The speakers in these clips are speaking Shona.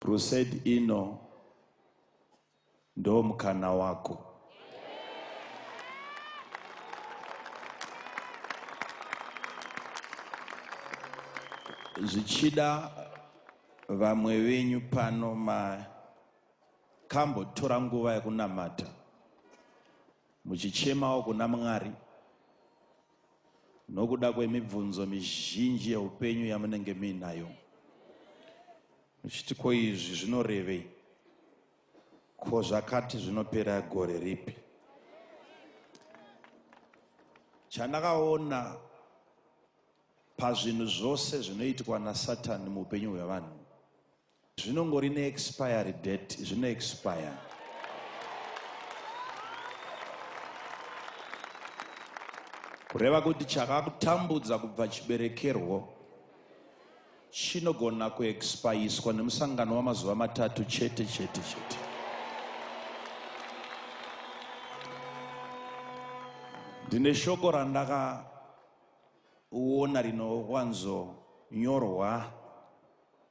Crusade ino ndo mukana wako. Zvichida vamwe venyu pano makambotora nguva yekunamata Muchichemawo kuna Mwari nokuda kwemibvunzo mizhinji yeupenyu yamunenge muinayo, muchiti ko izvi zvinorevei? Ko zvakati zvinopera gore ripi? Chandakaona pazvinhu zvose zvinoitwa naSatani muupenyu hwevanhu Zvinongori ne expiry date zvino expire. Kureva kuti chakakutambudza kubva chiberekerwo chinogona kuexpayiswa nemusangano wamazuva matatu chete chete chete. Ndine shoko randakaona rinowanzonyorwa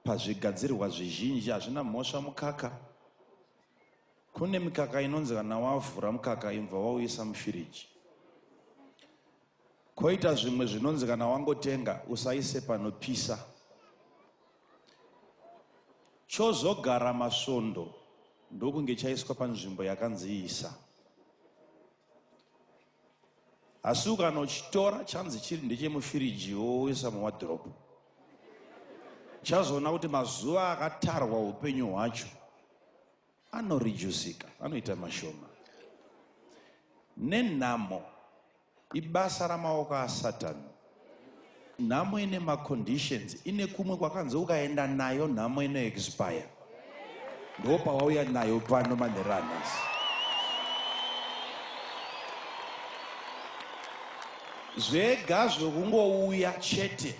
Pazvigadzirwa zvizhinji hazvina mhosva mukaka. Kune mikaka inonzi kana wavhura mukaka imbva wauisa mufiriji. Koita zvimwe zvinonzi kana wangotenga usaise panopisa. Chozogara masvondo ndokunge chaiswa panzvimbo yakanzi isa. Asi ukanochitora chanzi chiri ndechemufiriji woisa muwadhiropu, uchazoona kuti mazuva akatarwa upenyu hwacho anorijusika, anoita mashoma. Nenhamo, ibasa ramaoko aSatani Nhamo ine maconditions ine kumwe kwakanzi ukaenda nayo nhamo ino expire ndo pawauya nayo pano manhero anhasi zvega zvekungouya chete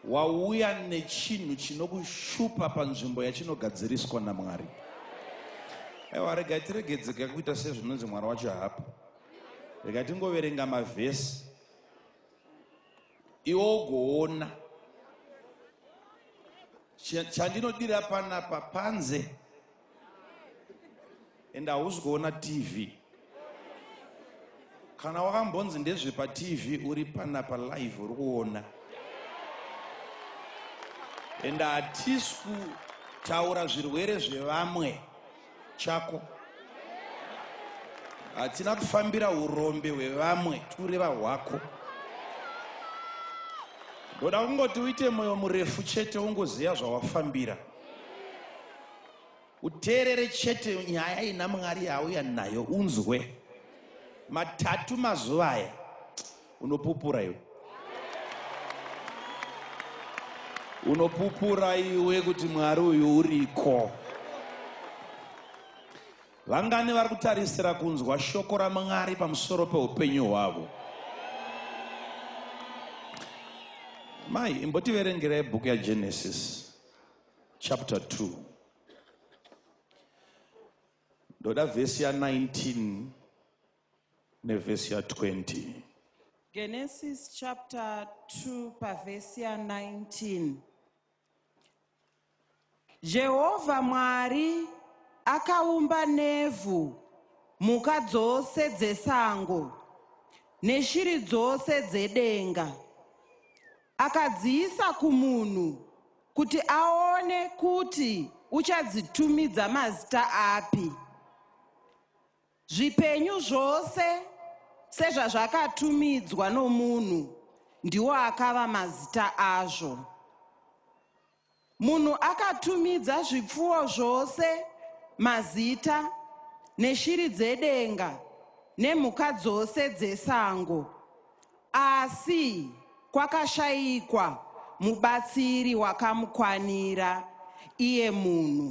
wauya nechinhu chinokushupa panzvimbo yachinogadziriswa namwari aiwa rega tiregedzeka kuita sezvinonzi mwari wacho haapo rega tingoverenga mavhesi iwo ugoona chandinodira panapa panze and hausi kuona tv kana wakambonzi ndezvepatv uri panapa live uri kuona and hatisi kutaura zvirwere zvevamwe chako hatina kufambira urombe hwevamwe tikureva hwako ndoda kungoti uite mwoyo murefu chete ungoziva zvawafambira uteerere chete nyaya ina mwari yauya nayo unzwe matatu mazuva aya unopupura iwe unopupura iwe kuti mwari uyu uriko vangani vari kutarisira kunzwa shoko ramwari pamusoro peupenyu hwavo mai imbotiverengerai bhuku yagenesis chapter 2 ndoda vhesi ya 19 nevhesi ya 20. Genesis chapter 2 pavhesi ya 19. Jehovha Mwari akaumba nevhu mhuka dzose dzesango neshiri dzose dzedenga. Akadziisa kumunhu kuti aone kuti uchadzitumidza mazita api. Zvipenyu zvose sezvazvakatumidzwa nomunhu ndiwo akava mazita azvo. Munhu akatumidza zvipfuwo zvose mazita neshiri dzedenga nemhuka dzose dzesango. Asi kwakashayikwa mubatsiri wakamukwanira iye munhu.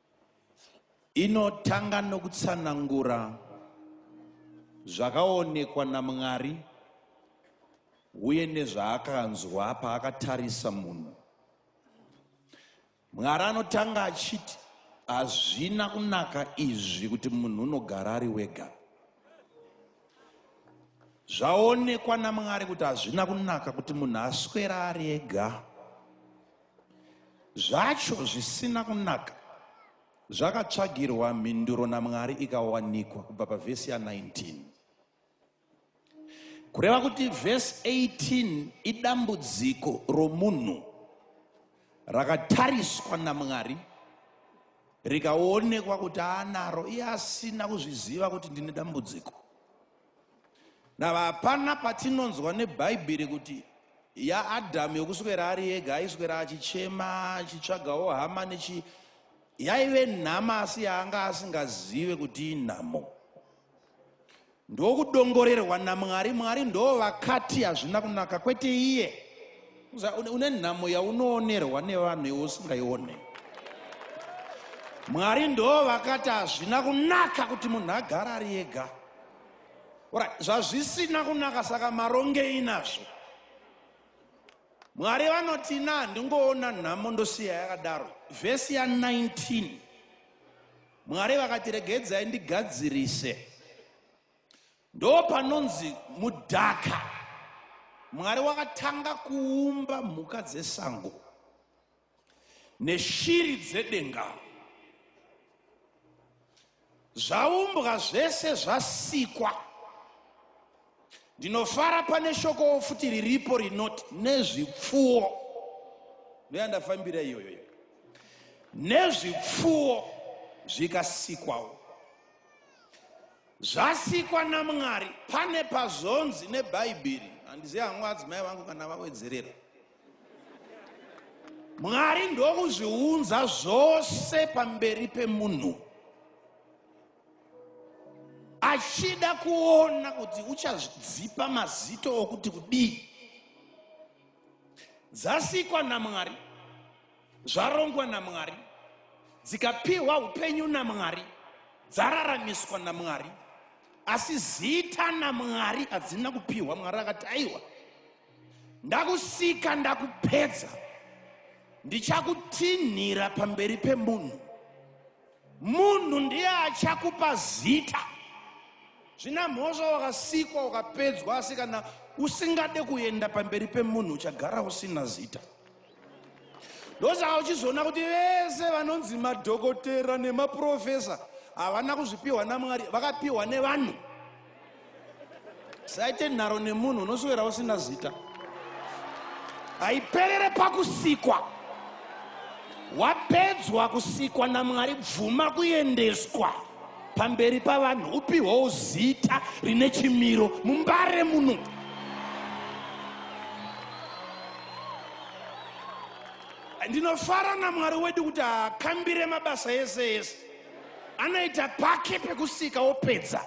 Inotanga nokutsanangura zvakaonekwa naMwari uye nezvaakanzwa paakatarisa munhu. Mwari anotanga achiti, Hazvina kunaka izvi kuti munhu unogara ari wega. Zvaonekwa naMwari kuti hazvina kunaka kuti munhu aswera ari ega. Zvacho zvisina kunaka zvakatsvagirwa mhinduro naMwari ikawanikwa kubva pavhesi ya19. Kureva kuti vhesi 18 idambudziko romunhu rakatariswa naMwari rikaonekwa kuti aanaro iye asina kuzviziva kuti ndine dambudziko. Nava hapana patinonzwa nebhaibheri kuti yaadhamu yokuswera ari ega aiswera achichema achitsvagawo hama nechi yaive nhama asi yaanga asingazive kuti inhamo ndokudongorerwa namwari mwari ndoo vakati hazvina kunaka kwete iye une nhamo yaunoonerwa nevanhu iwe usingaione mwari ndoo vakati hazvina kunaka kuti munhu agare ari ega ora zvazvisina kunaka saka marongei nazvo mwari vanoti ina handingoona nhamo ndosiya yakadaro vhesi ya 19 mwari vakati regedzai ndigadzirise Ndo panonzi mudhaka. Mwari wakatanga kuumba mhuka dzesango neshiri dzedenga. Zvaumbwa zvese zvasikwa. Ndinofara pane shokowo futi riripo rinoti nezvipfuwo. Ndoyandafambira iyoyo. Nezvipfuwo zvikasikwawo. Zvasikwa naMwari pane pazvonzi neBhaibheri. Handizivi hangu adzimai vangu kana vawedzerera. Mwari ndokuzviunza zvose pamberi pemunhu achida kuona kuti uchazvidzipa mazito okuti kudii dzasikwa namwari Zvarongwa naMwari, dzikapihwa upenyu naMwari, dzararamiswa naMwari, asi zita naMwari hadzina kupihwa. Mwari akati, aiwa, ndakusika, ndakupedza, ndichakutinhira pamberi pemunhu. Munhu ndiye achakupa zita. Zvina mhosva wakasikwa ukapedzwa asi kana usingade kuenda pamberi pemunhu uchagara usina zita. Ndosaka uchizoona kuti vese vanonzi madhokotera nemaprofesa havana kuzvipiwa naMwari, vakapiwa nevanhu. saite nharo nemunhu unoswera usina zita haiperere pakusikwa wapedzwa kusikwa namwari bvuma kuendeswa pamberi pavanhu upihwawo zita rine chimiro mumbare muno ndinofara namwari wedu kuti hakambire mabasa ese ese anoita pake pekusika opedza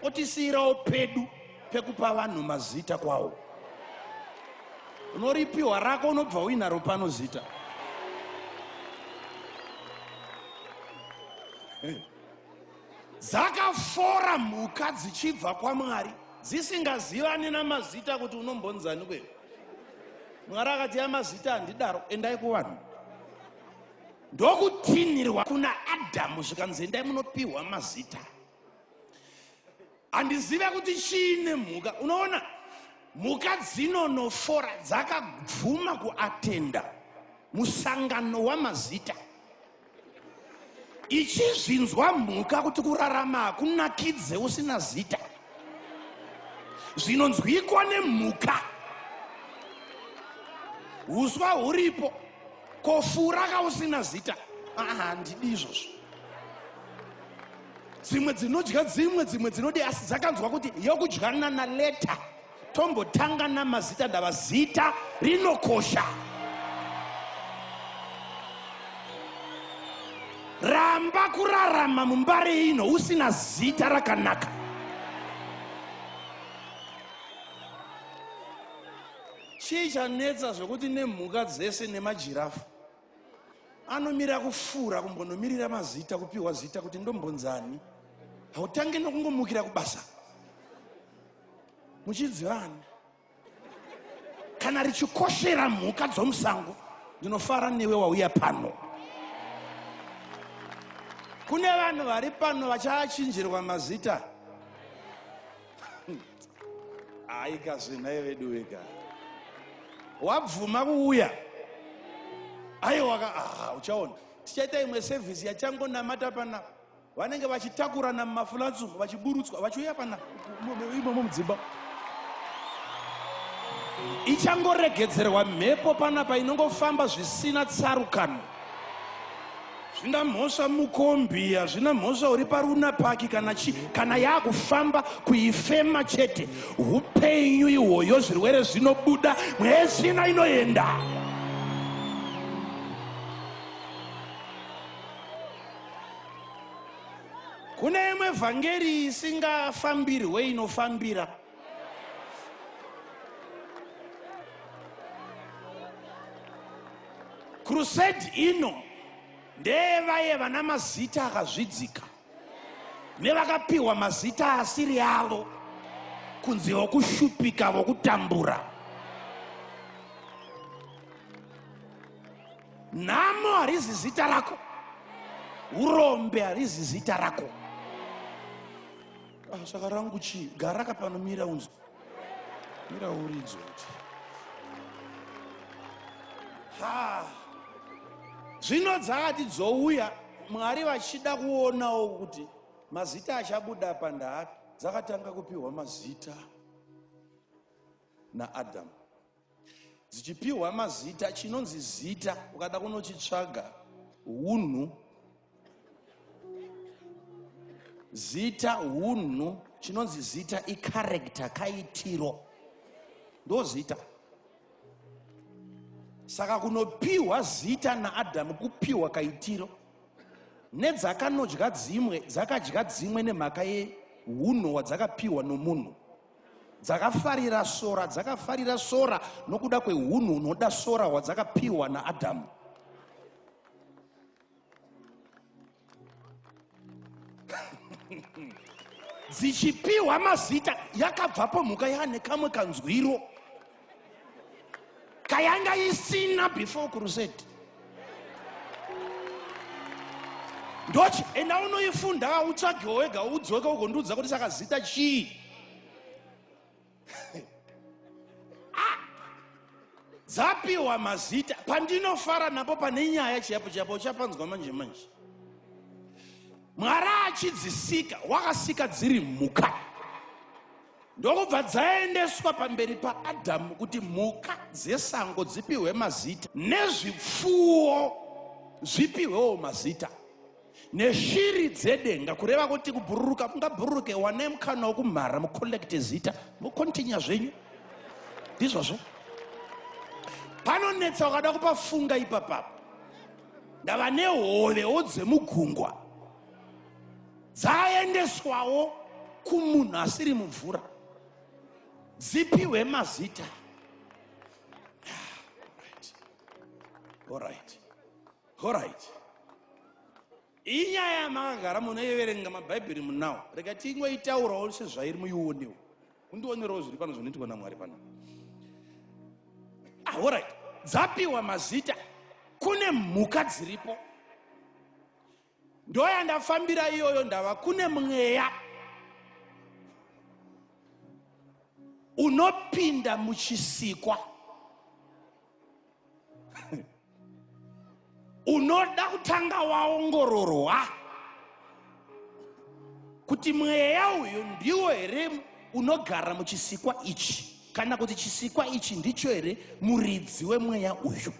otisiyirawo pedu pekupa vanhu mazita kwawo unoripiwa rako unobva uinaro pano zita dzakafora mhuka dzichibva kwamwari dzisingazivani namazita kuti unombonzani kweyo mwari akati ya mazita handidaro endai kuvanhu ndokutinhirwa kuna adhamu zvikanzi endai munopiwa mazita handizive kuti chii nemhuka unoona mhuka dzinonofora dzakabvuma kuatenda musangano wamazita ichizvinzwa mhuka kuti kurarama hakunakidze usina zita zvinonzwikwa nemhuka uswa huripo ko fura kausina zita handidi izvozvo dzimwe dzinodya dzimwe dzimwe dzinodi asi dzakanzwa kuti yokudyana naleta tombotanga namazita ndava zita rinokosha ramba kurarama mumbare ino usina zita rakanaka Chii chanetsa zvekuti nemhuka dzese nemajirafu anomira kufura kumbonomirira mazita kupiwa zita kuti ndombonzani hautange nokungomukira kubasa muchidzivana kana richikoshera mhuka dzomusango ndinofara newe wauya pano kune vanhu vari pano vachaachinjirwa mazita haika zvenhaye vedu vega wabvuma kuuya aiwaka aha uchaona tichaita imwe sevhisi yachangonamata pana vanenge vachitakurana mumafulansumu vachiburutswa vachiuya pana imomo mudzimba ichangoregedzerwa mhepo panapa inongofamba zvisina tsarukano Zvina mhosva mukombi hazvina mhosva uri paruna paki kana chi kana yakufamba kuifema chete upenyu ihwoyo zvirwere zvinobuda mwezvina inoenda kune imwe vhangeri isingafambirwe inofambira crusade ino ndeyevaye vana mazita akazvidzika nevakapiwa mazita asiri avo kunzi vokushupika vokutambura nhamo harizi zita rako urombe harizi zita rako Ah, saka rangu chii gara ka pano mira unzwa mira uridzo kuti ha zvino dzakati dzouya mwari vachida kuonawo kuti mazita achabuda apa ndaapi dzakatanga kupiwa mazita naadamu dzichipiwa mazita chinonzi zita ukada kunochitsvaga hunhu zita hunhu chinonzi zita icarecta kaitiro ndozita saka kunopiwa zita naadhamu kupiwa kaitiro nedzakanodya dzimwe dzakadya dzimwe nemhaka yehunhu hwadzakapiwa nomunhu Dzakafarira sora, dzakafarira sora nokuda kwehunhu hunoda sora hwadzakapiwa naAdhamu. dzichipiwa mazita yakabvapo mhuka yaane kamwe kanzwiro kayanga isina before crusade ndochi enda unoifunda utsvagewo wega udzoke ugondiudza kuti saka zita chii ah! dzapiwa mazita pandinofara napo pane nyaya chiyapo chiyapo uchapanzwa manje manje mwari achidzisika wakasika dziri mhuka ndokubva dzaendeswa pamberi paadhamu kuti mhuka dzesango dzipihwe mazita nezvipfuwo zvipihwewo mazita neshiri dzedenga kureva kuti kubhururuka mungabhururuke wane mukana wokumhara mucollect zita mukontinya zvenyu ndizvozvo panonetsa ukada kupafunga ipapapa ndava nehovewo dzemugungwa Dzaendeswawo kumunhu asiri mumvura dzipihwe mazita orit orit inyaya yamakagara munoiverenga mabhaibheri munawo rega tingoitaurawo sezvairi muionewo kundionerawo zviri pano zvinoitwa namwari pano ah, orit dzapiwa mazita kune mhuka dziripo ndoyandafambira iyoyo ndava kune mweya unopinda muchisikwa unoda kutanga waongororwa kuti mweya uyu ndiwo here unogara muchisikwa ichi kana kuti chisikwa ichi ndicho here muridzi wemweya uyu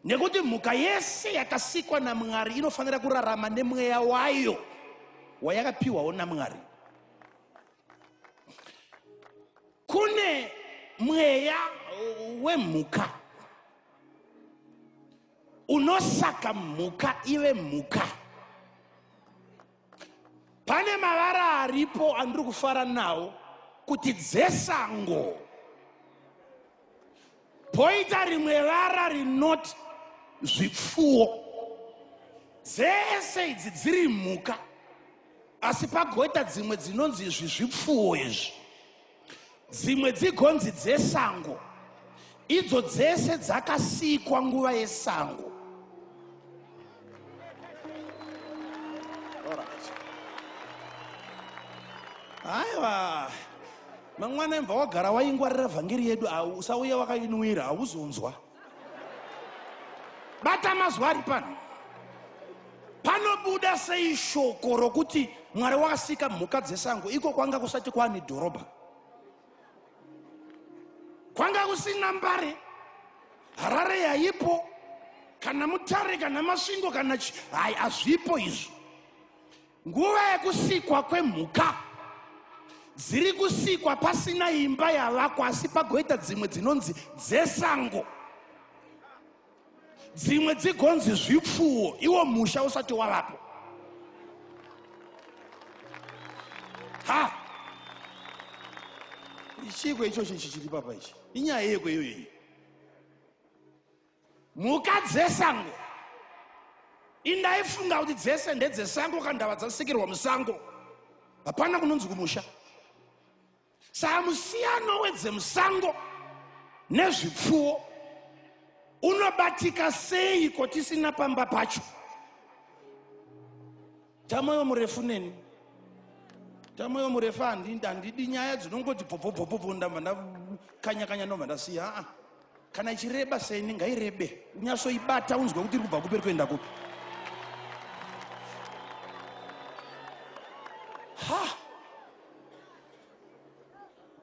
nekuti mhuka yese yakasikwa namwari inofanira kurarama nemweya wayo wayakapiwawo namwari kune mweya wemhuka unosaka mhuka ive mhuka pane mavara aripo andiri kufara nawo kuti dzesango poita rimwe vara rinoti zvipfuwo dzese idzi dziri mhuka asi pagoita dzimwe dzinonzi izvi zvipfuwo izvi Dzimwe dzigonzi dzesango idzo dzese dzakasikwa nguva yesango. Aiwa, mangwana imva wagara waingwarira vhangeri yedu, usauya wakainwira, hauzonzwa. bata mazwi ari pano panobuda sei shoko rokuti mwari wakasika mhuka dzesango iko kwanga kusati kwaane dhorobha kwanga kusina mbare harare yaipo kana mutare kana masvingo kana chi hai hazvipo izvo Nguva yekusikwa kwemhuka dziri kusikwa pasina imba yavakwa asi pagoita dzimwe dzinonzi dzesango dzimwe dzigonzi zvipfuwo iwo musha usati wavapo ha ichiiko ichochi chichiri papa ichi inyaya yeko iyoyo iyi mhuka dzesango indaifunga kuti dzese ndedzesango kana ndava dzasikirwa musango hapana kunonzi kumusha saka musiyano wedzemusango nezvipfuwo unobatika seiko tisina pamba pacho Tamoyo murefu neni. Tamoyo murefu handinda handidi nyaya dzinongoti bvobvobvobvobvo ndamba ndakanya kanya ndobva ndasiya. Ah, kana ichireba seni ngairebe. Unyasoibata unzwe kuti iri kubva kupi iri kuenda kupi. Ha!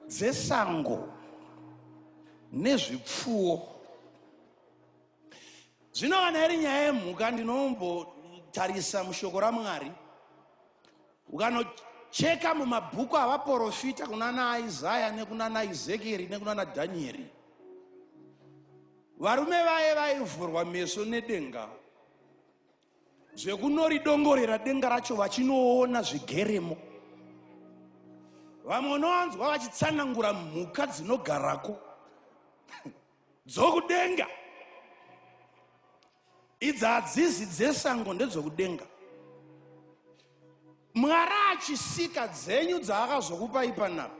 Dzesango nezvipfuwo. Zvino kana iri nyaya yemhuka, ndinombotarisa mushoko raMwari, ukanocheka mumabhuku avaporofita kunana Isaya nekunana Ezekieri nekunana Dhanieri, varume vaye vaivhurwa meso nedenga zvekunoridongorera denga racho vachinoona zvigeremo. Vamwe unowanzwa vachitsanangura mhuka dzinogarako. dzokudenga idzi hadzizi dzesango ndedzokudenga mwari achisika dzenyu dzaakazokupai panapa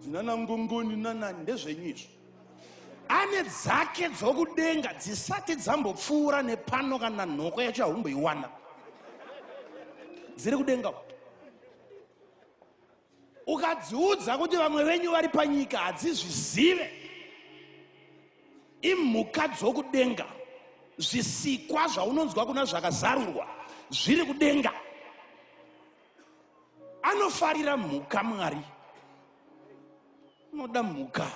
dzinana ngongoni nanani ndezvenyu izvo ane dzake dzokudenga dzisati dzambopfuura nepano kana nhoko yacho yahumboiwana dziri kudenga ukadziudza kuti vamwe venyu vari panyika hadzizvizive imhuka dzokudenga zvisikwa zvaunonzwa kuna zvakazarurwa zviri kudenga anofarira mhuka mwari unoda mhuka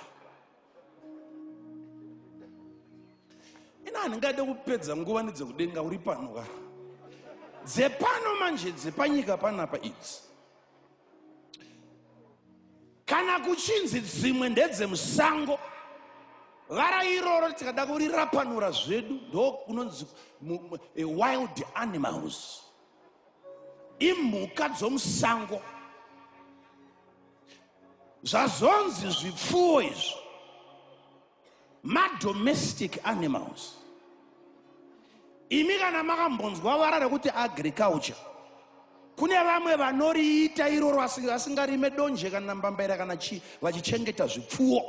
ina handingade kupedza nguva nedzekudenga uri pano ka dzepano manje dzepanyika panapa idzi kana kuchinzi dzimwe ndedzemusango vara iroro tikada kurirapanura zvedu ndokunonzi e wild animals imhuka dzomusango zvazonzi zvipfuwo izvo madomestic animals imi kana makambonzwa vara rekuti agriculture kune vamwe vanoriita iroro vasingarime donje kana mbambaira kana chii vachichengeta zvipfuwo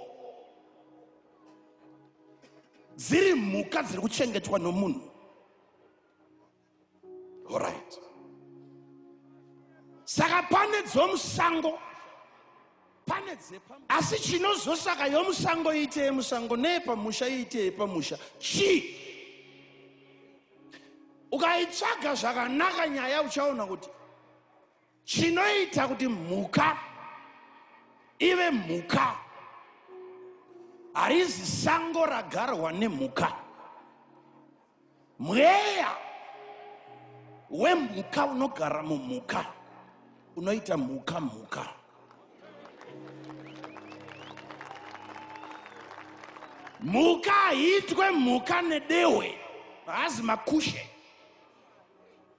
dziri mhuka dziri kuchengetwa nomunhu orit saka pane dzomusango pane dzepa asi chinozosaka yomusango iite yemusango neyepamusha iite yepamusha chii ukaitsvaga zvakanaka nyaya uchaona kuti chinoita kuti mhuka ive mhuka harizi sango ragarwa nemhuka mweya wemhuka unogara mumhuka unoita mhuka mhuka mhuka haitwe mhuka nedehwe haazi makushe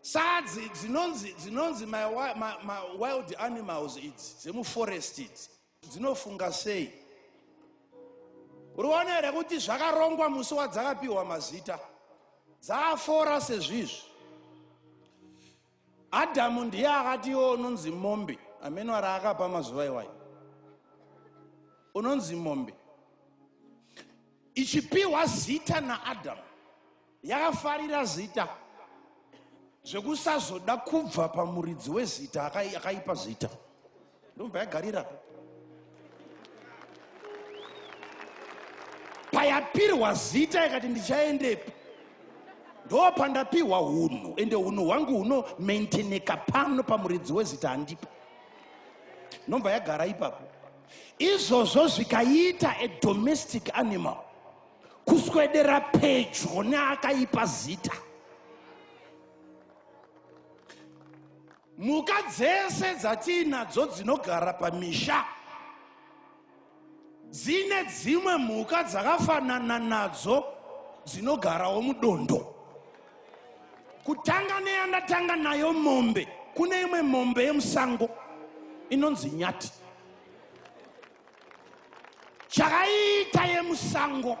Sadzi dzinonzi dzinonzi my, my, my wild animals idzi dzemuforest idzi dzinofunga sei? Urione here kuti zvakarongwa musi wadzakapiwa mazita dzaafora sezvizvi. Adamu ndiye akati iwo unonzi mombe amene wari akapa mazuva iwayo unonzi mombe ichipiwa zita naAdamu Yakafarira zita zvekusazoda kubva pamuridzi wezita akaipa zita ndobva yagarira payapirwa zita ikati ndichaendepi ndopandapihwa hunhu ende hunhu hwangu huno maintaineka pano pamuridzi wezita handipo ndobva yagara ipapo izvozvo zvikaita a domestic animal kuswedera pedyo neakaipa zita mhuka dzese dzatiinadzo dzinogara pamisha dzine dzimwe mhuka dzakafanana nadzo dzinogarawo mudondo kutanga neyandatanga nayo mombe kune imwe mombe yemusango inonzi nyati chakaita yemusango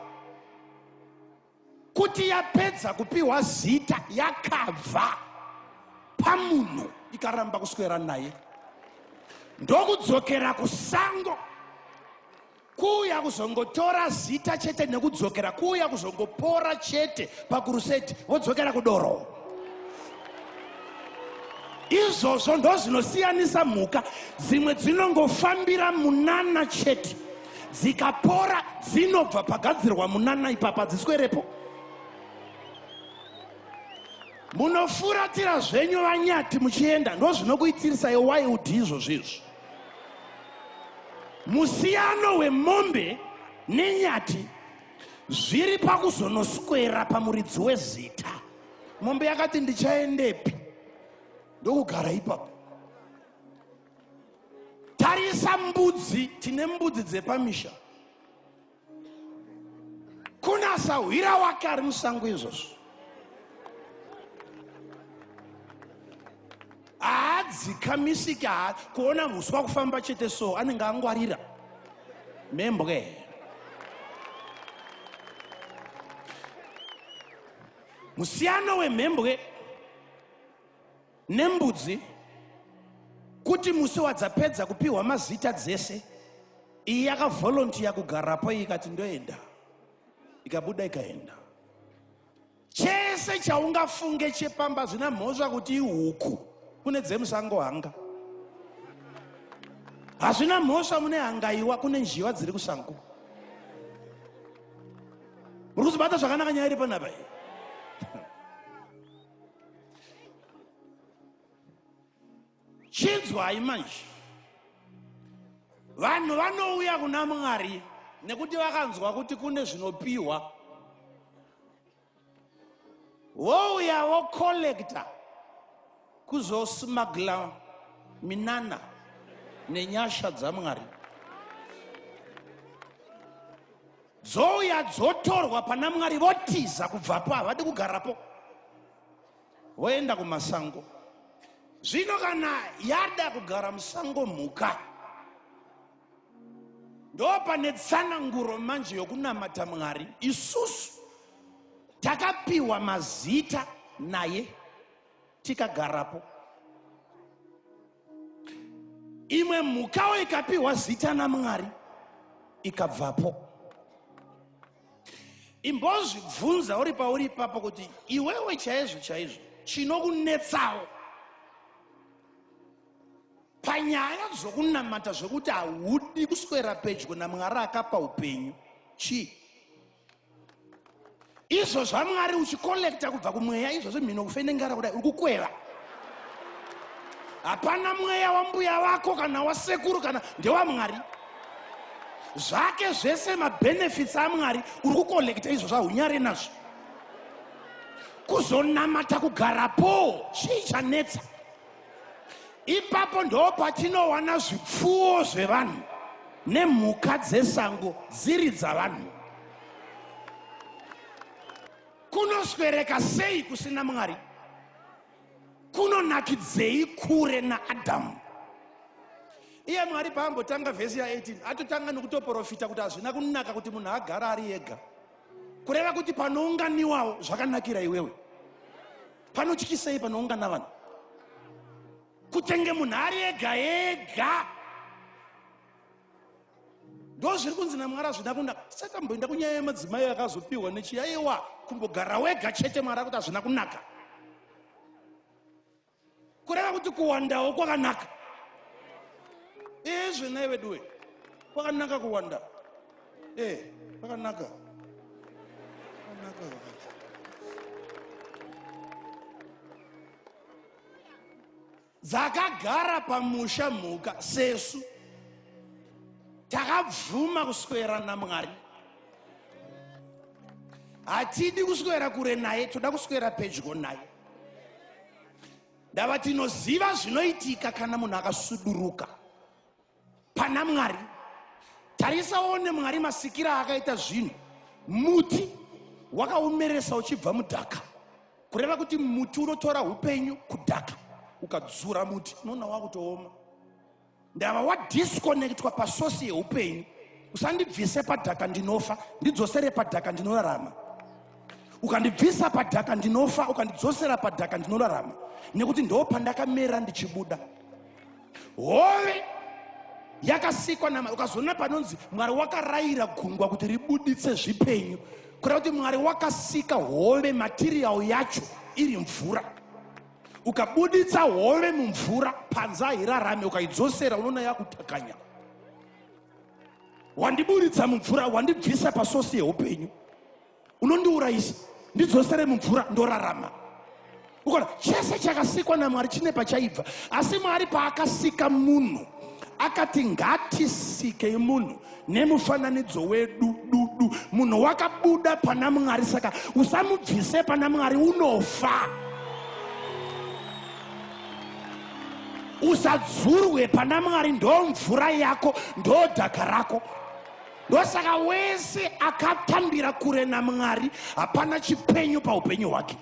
kuti yapedza kupiwa zita yakabva pamunhu ikaramba kuswera naye ndokudzokera kusango kuuya kuzongotora zita chete nekudzokera kuuya kuzongopora chete pakuruseti vodzokera kudoro izvozvo ndozvinosiyanisa mhuka dzimwe dzinongofambira munana chete dzikapora dzinobva pagadzirwa munana ipapa dziswerepo munofuratira zvenyu vanyati muchienda ndozvinokuitirisai wild izvozvo izvo musiyano wemombe nenyati zviri pakuzonoswera pamuridzi wezita mombe yakati ndichaendepi ndokugara ipapo tarisa mbudzi tine mbudzi dzepamisha kuna sahwira wake ari musango izvozvo haadzikamisiki kuona huswa kufamba chete so anenge angwarira membwe Musiyano wemhembwe nembudzi kuti musi wadzapedza kupiwa mazita dzese iyi yakavolontiya kugarapo iyi ikati ndoenda ikabuda ikaenda chese chaungafunge chepamba zvina mhosva kuti ihuku kune dzemusango hanga hazvina mhosva mune hangaiwa kune njiva dziri kusango muri kuzobata zvakanaka nyaya iri panapa iyi chinzwai manje vanhu vanouya kuna mwari nekuti vakanzwa kuti kune zvinopiwa wouya wokollekta kuzosmagla minana nenyasha dzamwari dzouya dzotorwa pana mwari votiza kubvapo havadi kugarapo voenda kumasango zvino kana yada kugara musango mhuka ndopane tsananguro manje yokunamata mwari isusu takapiwa mazita naye tikagarapo imwe mhukawo ikapiwa zita namwari ikabvapo imbozvibvunza uri pauri ipapo kuti iwewe chaizvo chaizvo chinokunetsawo panyaya dzokunamata zvekuti haudi kuswera pedyo namwari akapa upenyu chii izvo zvamwari uchikolekta kubva kumweya izvo zvemhino kufende ngara kudai uri kukweva hapana mweya wambuya vako kana wasekuru kana ndewamwari zvake zvese mabenefits amwari uri kukolekta izvo zvahunyare nazvo kuzonamata kugarapo chii chanetsa ipapo ndo patinowana zvipfuwo zvevanhu nemhuka dzesango dziri dzavanhu kunoswereka sei kusina mwari kunonakidzei kure naadhamu iye mwari paambotanga vhesi ya 18 atotanga nekutoprofita kuti hazvina kunaka kuti munhu agara ari ega kureva kuti panounganiwawo zvakanakira iwewe panotyisei panoungana vanhu kutenge munhu ari ega ega ndo zviri kunzi namwari azvina kunaka saka mboenda kunyaya yemadzimai akazopiwa nechiyaiwa kumbogara wega chete mwari akuti azvina kunaka kureva kuti kuwandawo kwakanaka ezve nai veduwe kwakanaka kuwanda e kwakanaka dzakagara pamusha mhuka sesu takabvuma kuswera namwari hatidi kuswera kure naye toda kuswera pedyo naye ndava tinoziva zvinoitika kana munhu akasuduruka pana mwari tarisa one mwari masikira akaita zvinhu muti wakaomeresa uchibva mudhaka kureva kuti muti unotora upenyu kudhaka ukadzura muti unoona wakutooma ndava wadisconnectwa pasosi yeupenyu usandibvise padhaka ndinofa ndidzosere padhaka ndinorarama ukandibvisa padhaka ndinofa ukandidzosera padhaka ndinorarama nekuti ndo pandakamera ndichibuda hove yakasikwa namari ukazoona panonzi mwari wakarayira gungwa kuti ribuditse zvipenyu kureva kuti mwari wakasika hove matirial yacho iri mvura ukabuditsa hove mumvura panze hairarame ukaidzosera unoona yakutakanya wandiburitsa mumvura wandibvisa pasosi yeupenyu unondiurayisa ndidzosere mumvura ndorarama ukona chese chakasikwa namwari chine pachaibva asi mwari paakasika munhu akati ngatisike munhu nemufananidzo wedu dudu munhu wakabuda pana mwari saka usamubvise pana mwari unofa usadzurwe pana mwari ndo mvura yako ndo dhaka rako ndosaka wese akatambira kure namwari hapana chipenyu paupenyu hwake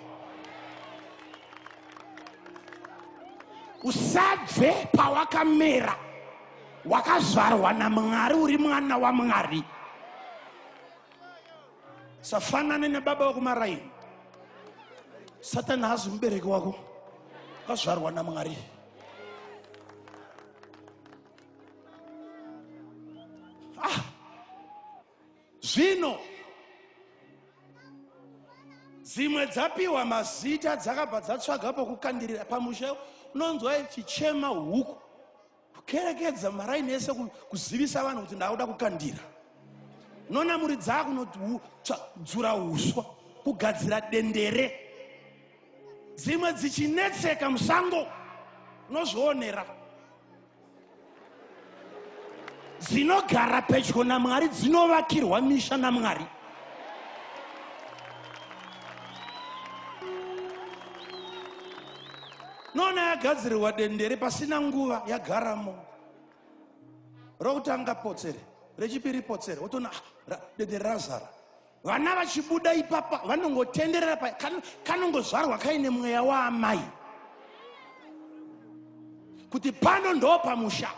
usabve pawakamera wakazvarwa namwari uri mwana wamwari safanane nebaba vekumaraini satani haazi mubereki wako wakazvarwa namwari ah. zvino dzimwe dzapiwa mazita dzakabva dzatsvaga pokukandirira pamusha unonzwa ichichema huku kukerekedza maraini ese kuzivisa vanhu kuti ndakuda kukandira nonamuridzaa kunodzura uswa kugadzira dendere dzimwe dzichinetseka musango unozvionera dzinogara pedyo namwari dzinovakirwa misha namwari noona yagadzirirwa dendere pasina nguva yagaramo rokutanga potsere rechipiri potsere wotoona ah, dendere razara vana vachibuda ipapa vanongotenderera pa kanongozvarwa kaine mweya waamai kuti pano ndo pamusha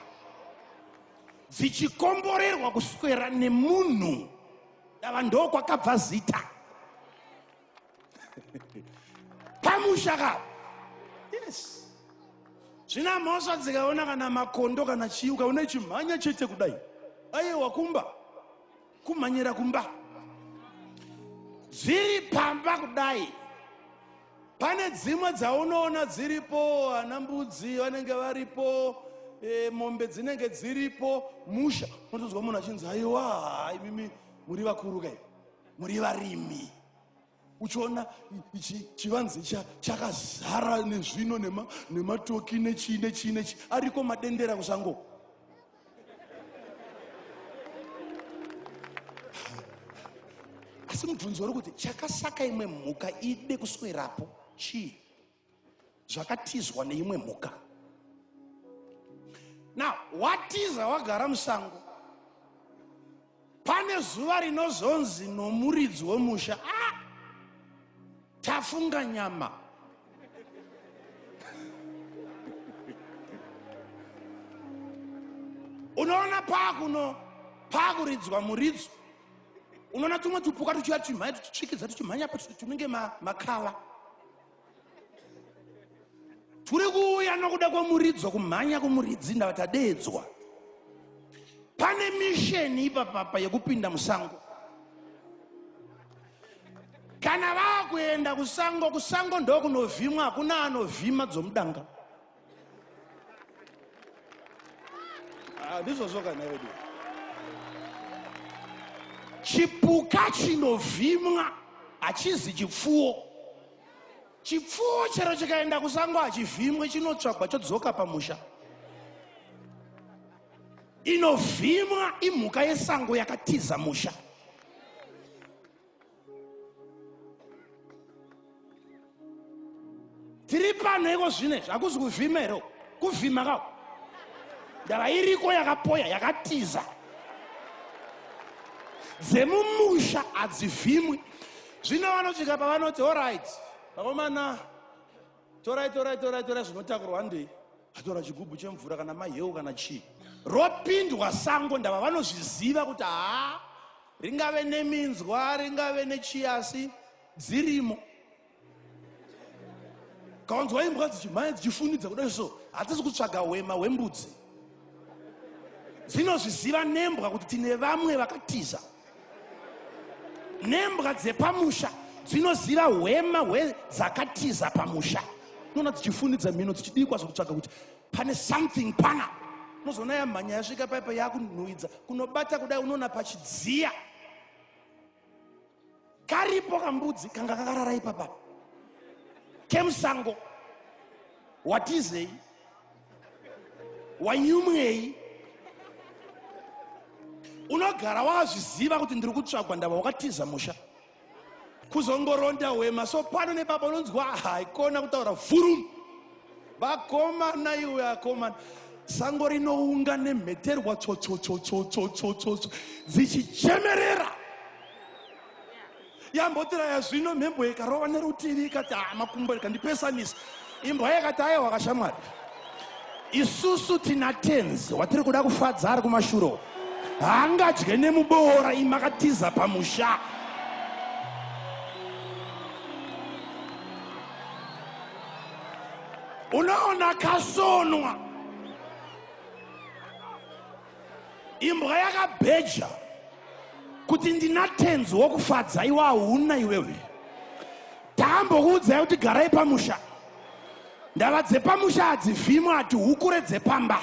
dzichikomborerwa kuswera nemunhu dava ndokwakabva zita pamusha ka yes zvina mhosva dzikaona kana makondo kana chii ukaona ichimhanya chete kudai ayewa kumba kumhanyira kumba dziri pamba kudai pane dzimwe dzaunoona dziripo ana mbudzi vanenge varipo e, mombe dzinenge dziripo musha unotonzwa munhu achinzi aiwa imimi muri vakuru kai muri varimi uchiona chivanze chakazara nezvino nematoki nechii nechii nechii ariko madendera kusango asi mubvunzo uri kuti chakasaka imwe mhuka ide kuswerapo chii zvakatizwa neimwe mhuka now watiza wagara musango pane zuva rinozonzi nomuridzi wemusha ah! tafunga nyama unoona paakuno paakuridzwa muridzo unoona tumwe tupuka tuchiva tumhai tuchitsvikidza tuchimhanya pa tunenge makava ma turi kuuya nokuda kwomuridzo kumhanya kumuridzi ndava tadeedzwa pane misheni ipapapa yekupinda musango kana vakuenda kusango kusango ndokunovhimwa hakuna anovhima dzomudanga Ah, ndizvozvo kana vedu chipuka chinovhimwa hachizi chipfuwo chipfuwo chero chikaenda kusango hachivhimwe chinotsvagwa chodzoka pamusha inovhimwa imhuka yesango yakatiza musha tiri pano iko zvino izvi hakuzi kuvhima here kuvhima ka ndava iriko yakapoya yakatiza dzemumusha hadzivhimwi zvino vanosvika pavanoti orit vakomana torai torai torai torai zvinotakurwa ndei atora chigubhu chemvura kana maheu kana chii ropindwa sango ndava vanozviziva kuti haa Ringave neminzwa, ringave nechiyasi, dzirimo. Kawanzwa imbwa dzichimhanya dzichifunidza kudai so, hadzisi kutsvaga hwema hwembudzi. Dzinozviziva nembwa kuti tine vamwe vakatiza. Nembwa dzepamusha dzinoziva hwema hwedzakatiza pamusha. Unoona dzichifunidza mhino dzichidii kwazo kutsvaga kuti pane something pana unozoona yamhanya yasvika paipa yakunhuhidza kunobata kudai unoona pachidziya karipo kambudzi kanga kakarara ipapa kemusango watizei wanyumwei unogara wazviziva kuti ndiri kutsvagwa ndava wakatiza musha kuzongoronda hwema so pano nebaba unonzwa haikona kutaura vurum vakomana iwe akomana sango rinounga nemheterwa tsotsotsotsotsotsotsotso dzichichemerera yambotira yazvino mhembo ikarova nerutivi ikati ah, makumbo ikandipesanisa Imbwa yakati ayewa kashamwari. Isusu tina tenzi watiri kuda kufadza ari kumashuro. Haangadye nemuboora imakatiza pamusha. Unoona kasonwa. imbwa yakabheja kuti ndina tenzi wokufadza iwe hauna iwewe takambokuudzai kuti garai pamusha ndava dzepamusha hadzivhimwe hati hukure dzepamba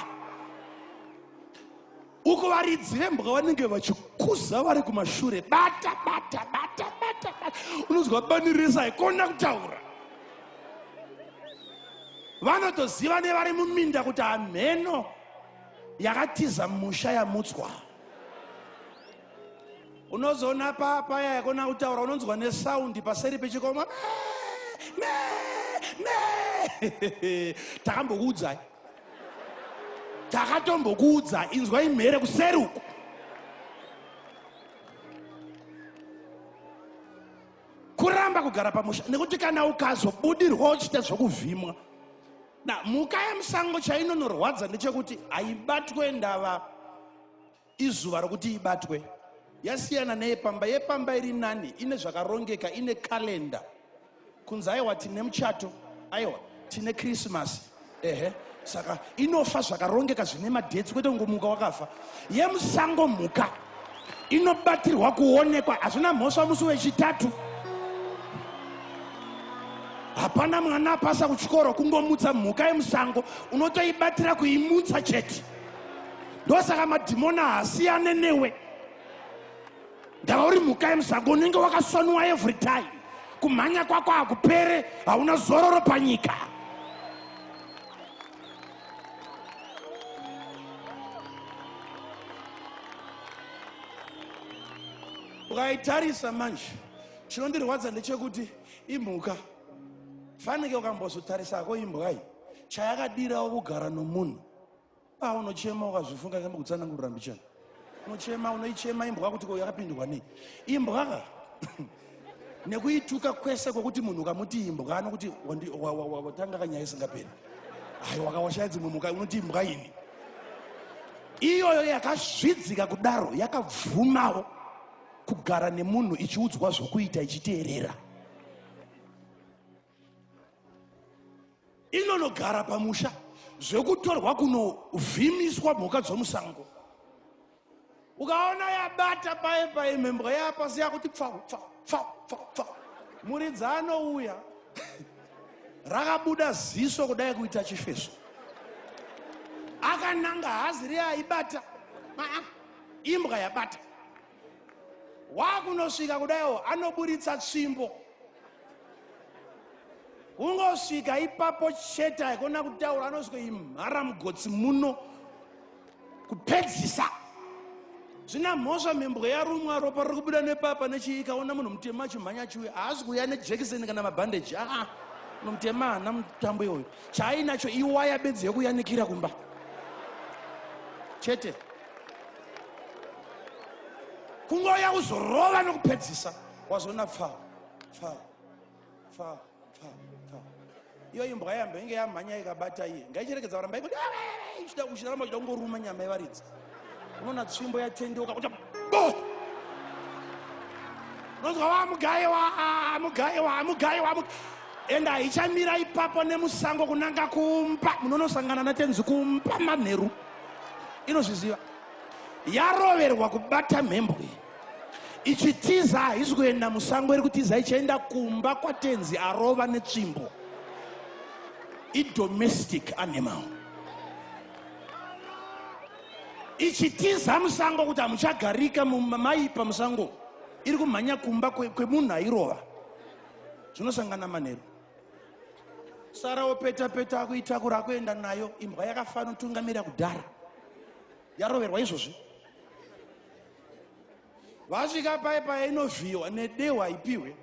uko varidzi vembwa vanenge vachikuza vari kumashure bata bata bata bata bata unonzwa bani rese haikona kutaura vanotoziva nevari muminda kuti hamheno yakatiza musha yamutswa unozoona paa paya yakona kutaura unonzwa nesaundi paseri pechikoma takambokuudzai takatombokuudza inzwa imhere kuseri uku kuramba kugara pamusha nekuti kana ukazobudirwa uchita zvokuvhimwa Na mhuka yemusango chainonorwadza ndechekuti haibatwe ndava izuva rokuti ibatwe. Yasiyana neyepamba. Yepamba iri nani, ine zvakarongeka, ine calendar. Kunzi aiwa tine muchato, aiwa tine Christmas. Ehe. Saka inofa zvakarongeka zvine madates kwete kungomuka wakafa. Yemusango mhuka inobatirwa kuonekwa hazvina mhosva musi wechitatu hapana mwana apasa kuchikoro kungomutsa mhuka yemusango unotoibatira kuimutsa chete ndosaka madhimona haasiyane newe ndava uri mhuka yemusango unenge wakasoniwa every time kumhanya kwako hakupere hauna zororo panyika ukaitarisa manje chinondirwadza ndechekuti imhuka fanike ukambozotarisako imbwai chayakadirawo kugara nomunhu paunochema ukazvifunga kemukutsanangurira mbichana Unochema unoichema imbwa kuti ko yakapindwa nei? Imbwa ka? Nekuituka kwese kwokuti munhu ukamuti imbwa anokuti wandi- wa- wa- wa- watanga kanyaya isingaperi. Hayi wakawashaya dzimwe mhuka unoti imbwa ini. Iyoyo yakazvidzika kudaro yakabvumawo kugara nemunhu ichiudzwa zvokuita ichiteerera. inonogara pamusha zvekutorwa kunovhimiswa mhuka dzomusango ukaona yabata paye paye mhembwa yapasi yakuti pfau pfau pfau pfau pfau muridzi anouya rakabuda ziso kudai kuita chifeso akananga hazi riyaibata imbwa yabata wakunosvika kudaiwo anoburitsa tsvimbo kungosvika ipapo chete aikona kutaura anozwimhara mugotsi muno kupedzisa zvina mhosva mhembwe yarumwa ropa riri kubuda nepapa nechii ikaona munhu mutema achimhanya chiuya haasi kuuya nejekiseni kana mabhandeji aa munhu mutema haana mutambo iwoyo chaainacho iwaya bedzi yekuyanikira kumba chete kungouya kuzorova nokupedzisa wazoona pfaa pfaa pfaa pfaa pfaa iyo imbwa yambo inge yamhanya ikabata iye ngaicherekedza varamba ikuti ichida kuchiramba uchida kungoruma nyama yevaridzi unoona tsvimbo yatendeuka kuti bo unonzwa wamugaiwa amugaiwa amugaiwa ende haichamira ipapo nemusango kunanga kumba munonosangana natenzi kumba manheru inozviziva yaroverwa kubata mhembwe iyi ichitiza haisi kuenda musango iri kutiza ichaenda kumba kwatenzi arova netsvimbo idomestic animal ichitiza musango kuti hamuchagarika maipa musango iri kumhanya kumba kwemunhu airova zvinosangana manheru sara wopeta peta akuitakura akuenda nayo imbwa yakafana utungamira kudhara yaroverwa izvozvi vasvika paye paye inovhiyiwa nedehwe haipiwe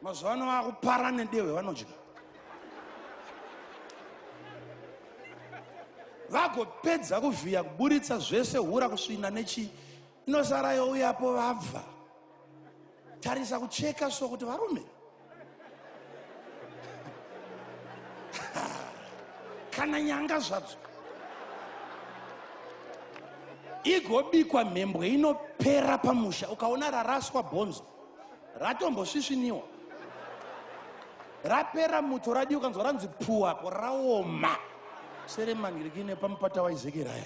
mazuva ano vakupara nedehwe vanodya vagopedza kuvhiya kuburitsa zvese hura kusvina nechii inosara youyapo vabva tarisa kucheka so kuti varume kana nyanga zvadzo igobikwa mhembwe inopera pamusha ukaona raraswa bhonzo ratombosvisviniwa rapera muto radi ukanzwa ranzi puu apo raoma seremanhirikine pamupata waizekeraya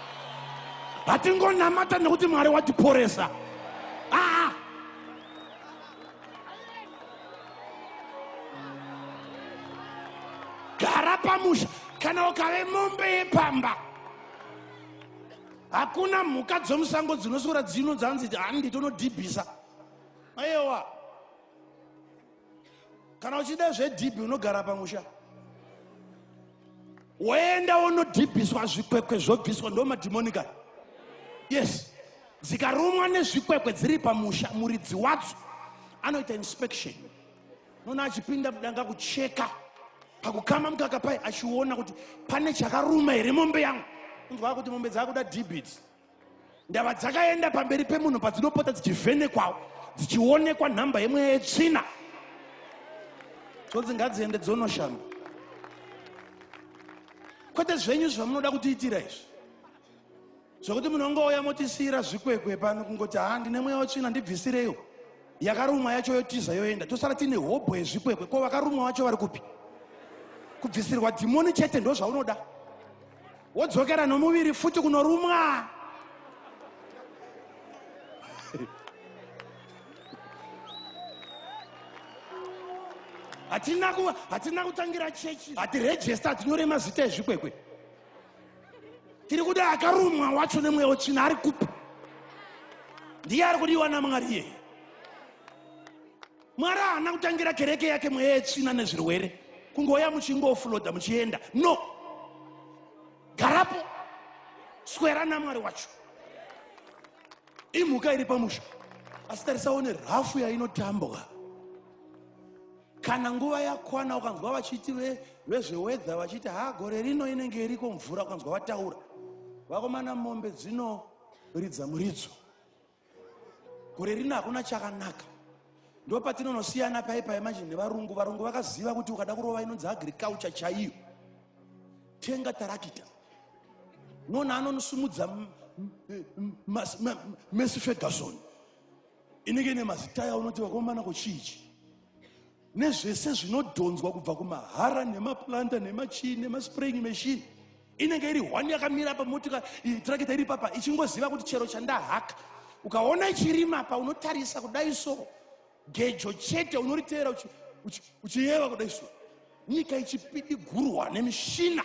hatingonamata nekuti mwari watiporesa aa ah. gara pamusha kana ukave mombe yepamba hakuna mhuka dzomusango dzinosora dzino dzanzi handi tonodhibhisa ayewa kana uchida zvedhibhi unogara pamusha woenda wonodhibhiswa zvikwekwe zvobviswa ndo madhimonika yes dzikarumwa nezvikwekwe dziri pamusha muridzi wadzo anoita inspection noona achipinda mudanga kucheka pakukama mukaka pai achiona kuti pane chakaruma here mombe yangu unzwaa kuti mombe dzaakuda dibits ndava dzakaenda pamberi pemunhu padzinopota dzichivhenekwawo dzichionekwa nhamba yemweya yetsvina zvonzi ngadziende dzonoshamba kwete zvenyu zvamunoda kutiitira izvi zvekuti munongouya motisiyira zvikwekwe pano kungoti ha ndine mweya wetsvina ndibvisireiwo yakarumwa yacho yotiza yoenda tosara tiine hobho yezvikwekwe ko vakarumwa vacho vari kupi kubvisirwa dhimoni chete ndozvaunoda wodzokera nomuviri futi kunorumwa hatina ku hatina kutangira chechi hatirejesta hatinyore mazita ezvikwekwe tiri kuda akarumwa wacho nemweya wetsvina ari kupi ndiye ari kudiwa namwari iyeye mwari haana kutangira kereke yake mweya yetsvina nezvirwere kungouya muchingofuloda muchienda no garapo swera namwari wacho imhuka iri pamusha asi tarisawo nerhafu yainotambwa kana nguva yakwana ukanzwa vachiti vezvewedha vachiti ha gore rino inenge iriko mvura ukanzwa vataura vakomana mombe dzinoridza muridzo gore rino hakuna chakanaka ndo patinonosiyana pai pai manje nevarungu varungu vakaziva kuti ukada kurova inonzi agriculture chaiyo tenga tarakita nona anonosumudza mesi ferguson inenge ine mazita yaunoti vakomana kochiichi nezvese zvinodhonzwa kubva kumahara nemaplanta nemachii nemaspraying machine inenge iri hwani yakamira pamotika trakita iri papa ichingoziva kuti chero chandahaka ukaona ichirima pa unotarisa kudai so gejo chete unoriteera uchiyeva kudai so nyika ichipidigurwa nemishina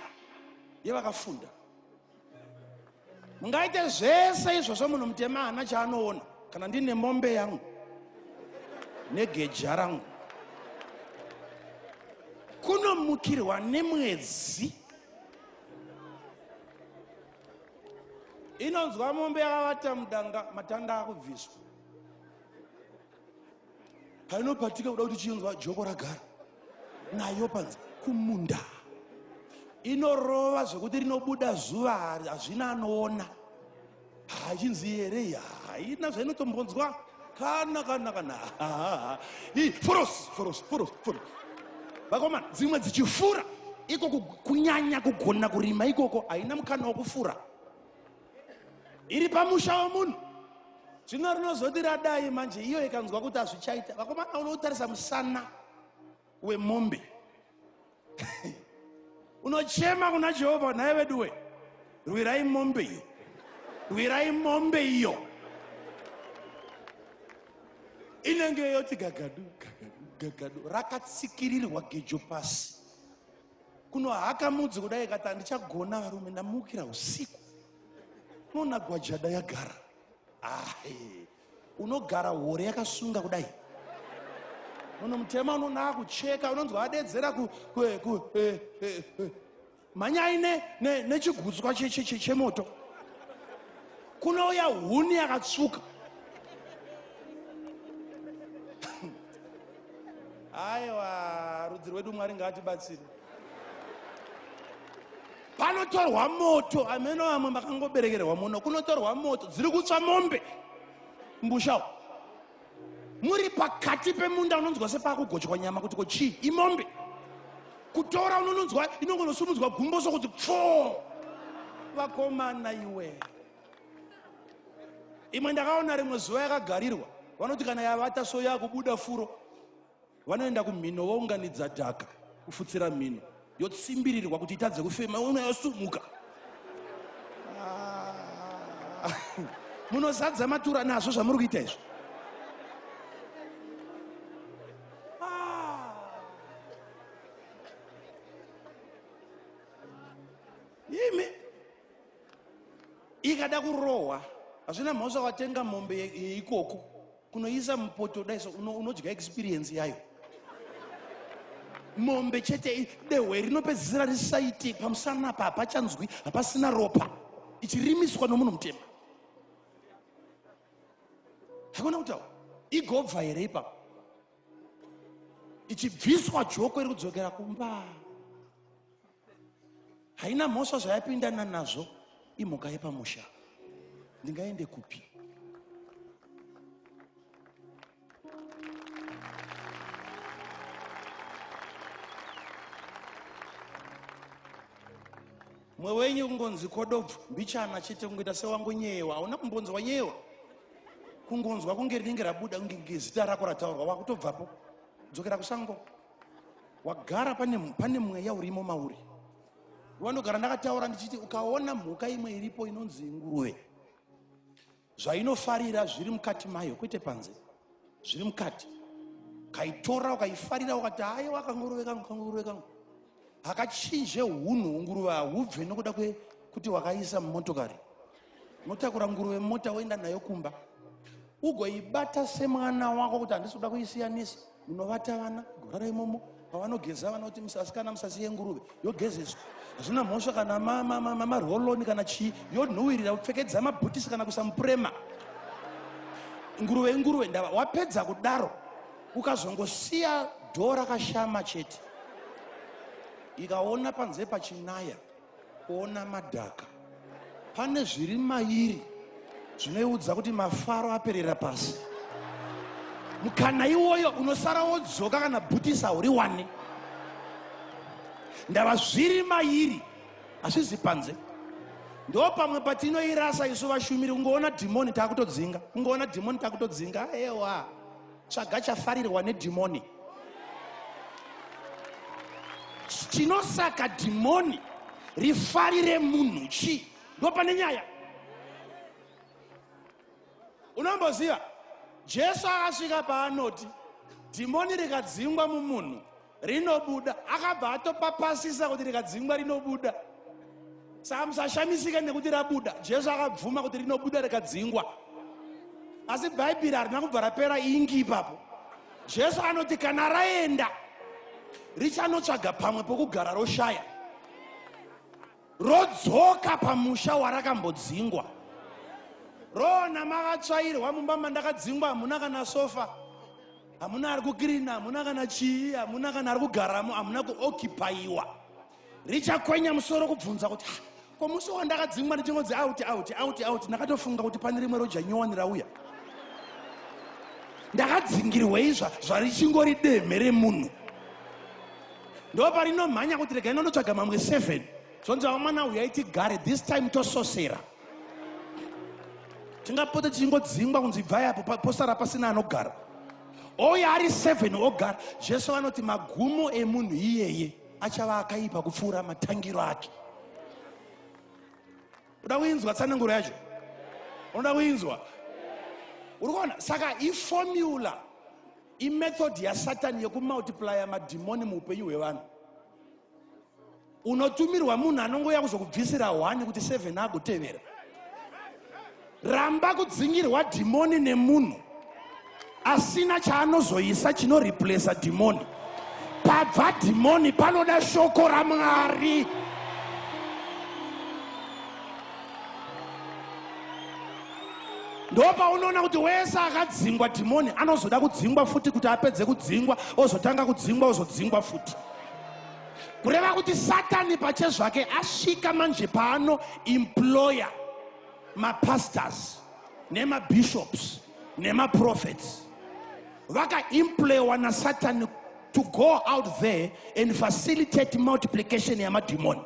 yevakafunda mungaite zvese izvozvo munhu mutema haana chaanoona kana ndine mombe yangu negeja rangu kunomukirwa nemwedzi inonzwa mombe yakavata mudanga matanda akubviswa painopatika kuda kuti chinzwa joko ragara nayo panzi kumunda inorova zvekuti rinobuda zuva hazvina anoona hachinzi here haina zvainotombonzwa kana kana kana i forosi forosi forosi forosi vakomana dzimwe dzichifura ikoko kunyanya kugona kurima ikoko haina mukana wokufura iri pamusha wemunhu zvino rinozoti radai manje iyo ikanzwa kuti hazvichaita vakomana unotarisa musana wemombe unochema kuna jehovha nhai veduwe rwirai mombe iyo rwirai mombe iyo inenge yoti gagadu gagadu gagadu rakatsikirirwa gejo pasi kunohaka mudzi kudai kati handichagona varume ndamukira usiku unoona gwajada yagara ahe unogara hore yakasunga kudai munhu mutema unonaa kucheka unonzwa adedzera eh, eh, eh, mhanyai nechigutswa chemoto kunouya huni yakatsvuka Aiwa rudzi rwedu Mwari ngaatibatsire. Panotorwa moto ameno vamwe makangoberekerwa muno kunotorwa moto dziri kutsva mombe mbushawo muri pakati pemunda unonzwa sepakugochwa nyama kuti ko chii imombe kutora unononzwa inongonosumudzwa gumbo sokuti pfoo vakomana iwe imwe ndakaona rimwe zuva yakagarirwa vanoti kana yavata so yakubuda furo vanoenda kumhino vounganidza dhaka kufutsira mhino yotsimbirirwa kuti itadze kufema uno yosumuka ah. munozadza matura nazvo zvamuri kuita izvo ikada kurohwa hazvina mhosva watenga mombe yeikoko kunoisa mupoto daiso unodya experience yayo mombe chete dehwe rinopedzisira risaite pamusana apa hapachanzwi hapasina ropa ichirimiswa nomunhu mutema hakuna kutaura igobva here ipapo ichibviswa joko iri kudzokera kumba haina mhosva zvayapindana nazvo imhuka yepamusha ndingaende kupi mwe wenyu kungonzi kodobvu mbichana chete kungoita sewangu nyeyewa hauna kumbonzwa nyeyewa kungonzwa kunge rinenge rabuda kunge zita rako rataurwa wakutobvapo dzokera kusango wagara pane, pane mweya urimo mauri wanogara ndakataura ndichiti ukaona mhuka imwe iripo inonzi nguruve zvainofarira zviri mukati mayo kwete panze zviri mukati kaitora ukaifarira ukati haye wakanguruve kangu kanguruve kangu hakachinje hunhu unguruve hahubve nokuda kwekuti wakaisa mumotokari unotakura nguruve mumota woenda nayo kumba ugoibata semwana wako kuti handisi kuda kuisiyanisa munovata vana gorara imomo pavanogeza vana kuti musasikana musasiye nguruve yogezeswa hazvina mhosva kana marholoni kana chii yonhuwirira kupfekedza mabhutisi kana kuisa mupurema nguruve inguruve ndava wapedza kudaro ukazongosiya dhoo rakashama chete ikaona panze pachinaya Kuona madhaka. Pane zviri mairi zvinoiudza kuti mafaro aperera pasi. Mukana iwoyo unosara wodzoka kana bhutisa uri wani. Ndava zviri mairi hazvizi panze. Ndo pamwe patinoirasa isu vashumiri kungoona dhimoni takutodzinga. Kungoona dhimoni takutodzinga. Ewa. tsvaga chafarirwa nedhimoni chinosaka dhimoni rifarire munhu chii ndopane nyaya unomboziva jesu akasvika paanoti dhimoni rikadzingwa mumunhu rinobuda akabva atopapasisa kuti rikadzingwa rinobuda saka musashamisike nekuti rabuda jesu akabvuma kuti rinobuda rikadzingwa asi bhaibheri harina kubva rapera ingi ipapo jesu anoti kana raenda richanotsvaga pamwe pokugara roshaya rodzoka pamusha warakambodzingwa roona makatsvairwa mumba mandakadzingwa hamuna kana sofa hamuna ari kukirina hamuna kana chii hamuna kana ari kugaramo hamuna kuokipayiwa richakwenya musoro kubvunza kuti ah, ko musi wandakadzingwa ndichingonzi auti auti auti auti ndakatofunga kuti pane rimwe roja nyowani rauya ndakadzingirwei zvarichingori demhe remunhu ndoparinomhanya kuti regai nondotsvaga mamwe seven zvonzi vamwana huyai tigare this time tososera tingapote tichingodzingwa kunzi ibvai apo posara pasina anogara ouya ari seven ogara jesu vanoti magumo emunhu iyeye achava akaipa kupfuura matangiro ake unoda kuinzwa tsananguro yacho unoda kuinzwa uri kuona saka ifomula imethod yasatani yekumultiplya madhimoni muupenyu hwevanhu unotumirwa munhu anongouya kuzokubvisira hwani kuti seven agotevera ramba kudzingirwa dhimoni nemunhu asina chaanozoisa chinoreplesa dhimoni pabva dhimoni panoda shoko ramwari ndopaunoona kuti wese akadzingwa dhimoni anozoda kudzingwa futi kuti apedze kudzingwa ozotanga kudzingwa ozodzingwa futi kureva kuti satani pache zvake asvika manje paano imploya mapastors nemabishops nemaprofets vakaemployewa nasatani to go out there and facilitate multiplication yamadhimoni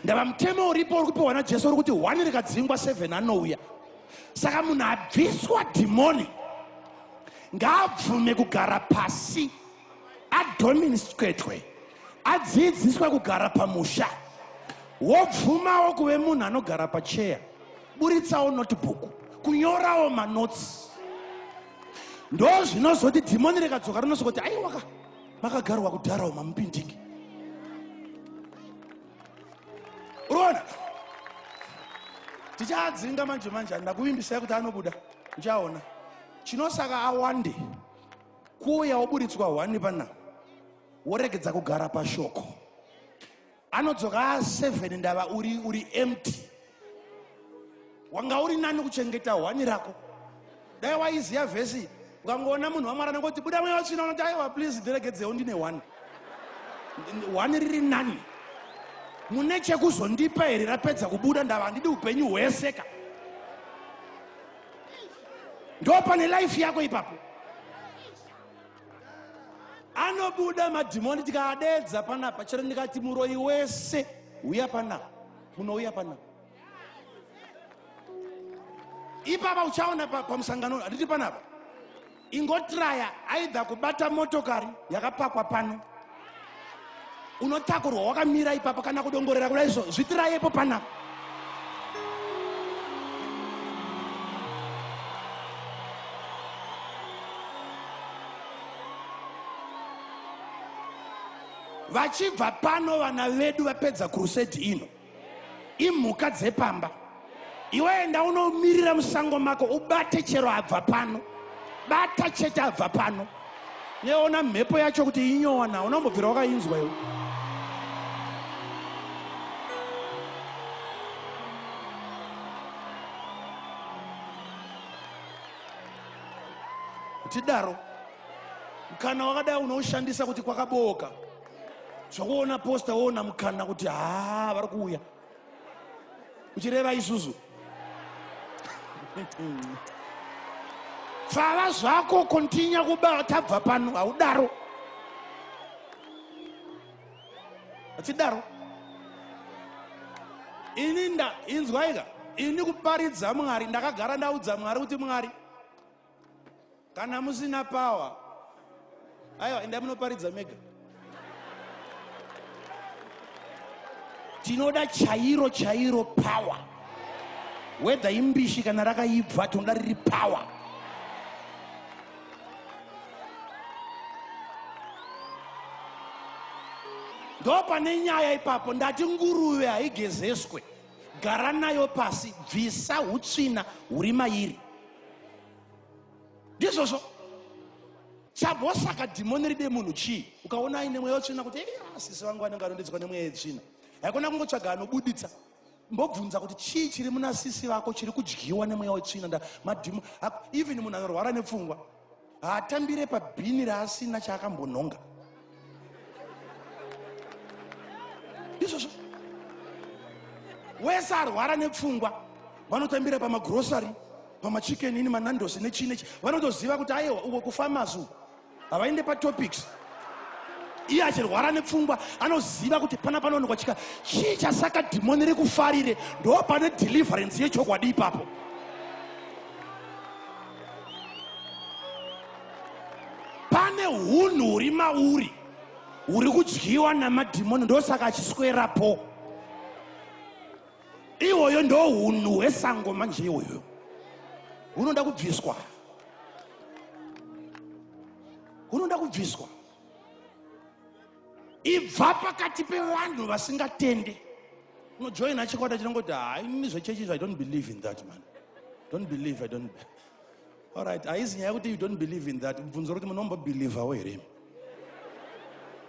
ndava mutemo uripo uri kupiwa najesu uri kuti one rikadzingwa 7 anouya saka munhu abviswa dhimoni ngaabvume kugara pasi adominstwetwe adziidziswe kugara pamusha wobvumawo kuve munhu anogara pacheya buritsawo notebook kunyorawo manotsi ndozvinozoti dhimoni rekadzoka rinosokoti aiwaka makagarwa kudharawo mamupindiki uroona tichaadzinga manje manje ndakuvimbisai kuti anobuda ndichaona chinosaka awande kuuya woburitswa hwani pana woregedza kugara pashoko anodzoka a 7 ndava uri uri empty wanga uri nani kuchengeta hwani rako dai waiziva vhesi ukangoona munhu wamwari anangoti buda mweya watsvina unoti aiwa please ndiregedzewo ndine one one riri nani mune chekuzondipa here rapedza kubuda ndava handidi upenyu hwese ka ndo pane life yako ipapo anobuda madhimoni tikaadedza panapa chero ndikati muroyi wese uya panapa munouya panapa ipapa uchaona pamusangano hatiti panapa ingotraya aidha kubata motokari yakapakwa pano unotakurwa wakamira ipapa kana kudongorera kuda izvo zvitirayepo panapa vachibva pano vana vedu vapedza kurusedi ino imhuka dzepamba iwe enda unomirira musango mako ubate chero abva pano bata chete abva pano neona mhepo yacho kuti inyowa na unambobvira wakainzwa iwe tidaro kana wakadai unoushandisa kuti kwakabooka zvokuona posta woona mukana kuti haa vari kuuya uchireva isusu pfava zvako kontinya kuba tabva pano haudaro achidaro ini inzwaika ini kuparidza mwari ndakagara ndaudza mwari kuti mwari kana musina power aiwa endai munoparidza mega tinoda chairo chairo power wedha imbishi kana rakaibva tinoda riri power ndo pane nyaya ipapo ndati nguruve haigezeswe gara nayo pasi bvisa utsvina huri mairi ndizvozvo chambosaka dhimoni ride munhu chii ukaona aine mweya wetsvina kuti sisi vangu vanenge anondidzwa nemweya yetsvina haikona kungotsvaga anobuditsa mbobvunza kuti chii chiri muna sisi vako chiri kudyiwa nemweya wetsvina nda madhimo even munhu anorwara nepfungwa haatambire pabhini raasina chaakambonhonga izvozvo wese arwara nepfungwa vanotambira pamagrosary pamachicken ini manandos nechii nechi vanotoziva kuti ayewa uko kufamasi uko havaende patopics iye achirwara nepfungwa anoziva kuti pana panoonekwa chika chii chasaka dhimoni rekufarire ndo pane deliverance yechokwadi ipapo pane hunhu huri mauri huri kudyiwa namadhimoni ndosaka achiswerapo ihoyo ndo hunhu hwesango manje ihoyo hunoda kubviswa hunoda kubviswa ibva pakati pevanhu vasingatende unojoina chikwata chinongoti ha inini zvechechi izvo i don't believe in that man don't believe i don't allright haizi nyaya yekuti you don't believe in that mubvunzo rokuti munombobhilivhawo here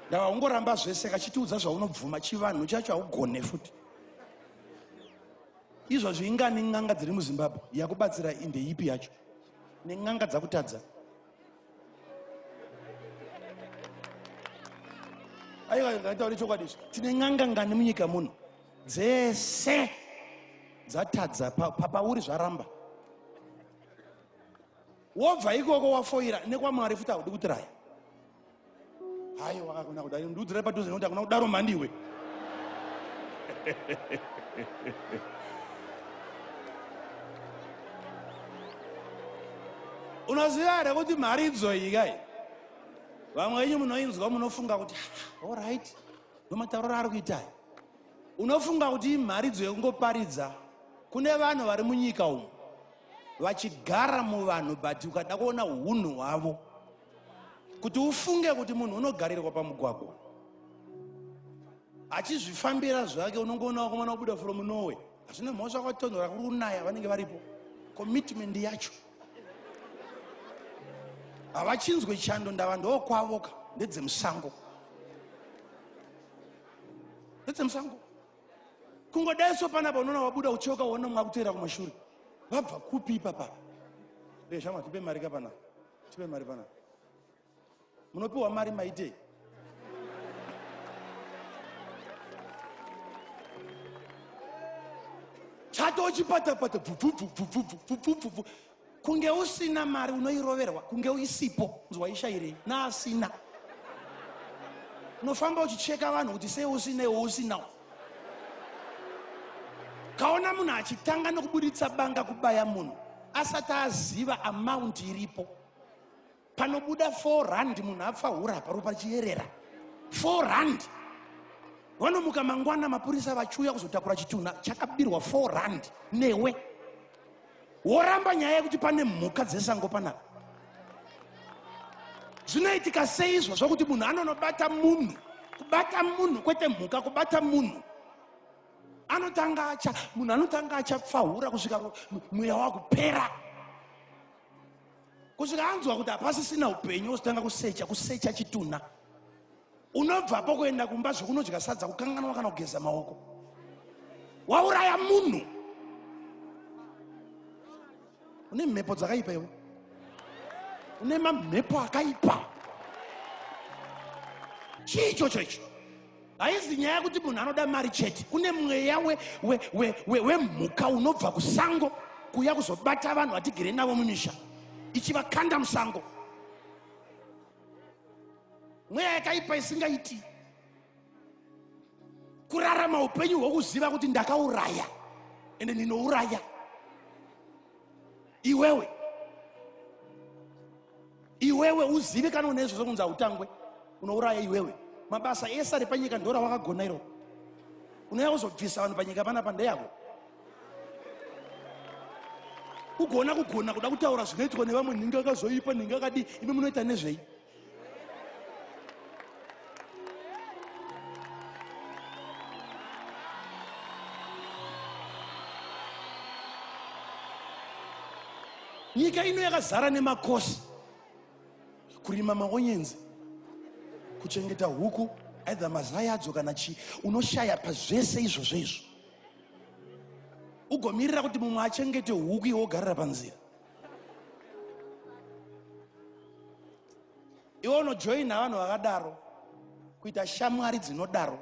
ndava ungoramba zvese kachitiudza zvaunobvuma chivanhu chacho haugone futi izvozvo ingani n'anga dziri muzimbabwe yakubatsira indeyipi yacho nen'anga dzakutadza aiwa ngataure chokwadi izvi tine n'anga ngani munyika muno dzese dzatadza papauri zvaramba wobva ikoko wafoira nekwamwari futi haudi kutiraya hayi wakakona kudai ndiudzira padhuze nokuti akuna kudaro mhandiwe unoziva here kuti mhari idzoyi kai vamwe venyu munoinzwa munofunga kuti orit ah, nomatauriro ari kuitai unofunga kuti imhari idzo yekungoparidza kune vanhu vari munyika umu vachigara muvanhu but ukada kuona unhu hwavo kuti ufunge kuti munhu unogarirwa pamugwagwa achizvifambira zvake unongoona wakomana wabuda from norway hazvine mhosva kwatonhora kuri kunaya vanenge varipo commitment yacho havachinzwe chando ndava ndokwavoka ndedzemusango ndedzemusango kungodai so panapa unoona wabuda uchiyoka uona mwakuteera kumashure vabva kupi ipapapa veshamwa tipe mari kapanapa tipe mari pana munopiwa mari maitei chatochipatapata bvubvubvubvubvubvubvubvubvu kunge usina mari unoiroverwa kunge uisipo nzwa ishairei naasina unofamba uchicheka vanhu kuti sei usinei wousinawo kaona munhu achitanga nokuburitsa banga kubaya munhu asati aziva amount iripo panobuda 4 rand munhu apfa hura paro pachiyerera 4 rand vanomuka mangwana mapurisa vachiuya kuzotakura chitunha chakabirwa 4 rand newe woramba nyaya yekuti pane mhuka dzesango panapa zvinoitika seizvo zvokuti munhu anonobata munhu kubata munhu kwete mhuka kubata munhu anotanga acha munhu anotanga achapfahura kusvika mweya wakupera kusvika anzwa kuti hapasisina upenyu wozotanga kusecha kusecha chitunha unobvapo kuenda kumba zvekunodya sadza kukanganwa kana kugeza maoko wauraya munhu une mhepo dzakaipa iwe une mamhepo akaipa chii ichocho icho haizi nyaya yekuti munhu anoda mari chete kune mweya wemhuka unobva kusango kuya kuzobata vanhu vatigere navo mumisha ichivakanda musango mweya yakaipa isingaiti kurarama upenyu hwokuziva kuti ndakauraya ende ndinouraya iwewe iwewe uzive kana une izvozvo kunzi hautangwe unouraya iwewe mabasa ese ari panyika ndora wakagona iro unouya kuzobvisa vanhu panyika panapa ndeyako ugoona kugona kuda kutaura zvinoitwa nevamwe nhinga akazoipa nhinga akadii imi munoita nezvei nyika ino yakazara nemakosi kurima maonyenzi kuchengeta huku either mazai adzo kana chii unoshaya pazvese izvozvo izvo ugomirira kuti mumwe achengete huku iwe wogarira panzira iwe unojoina vanhu vakadaro kuita shamwari dzinodaro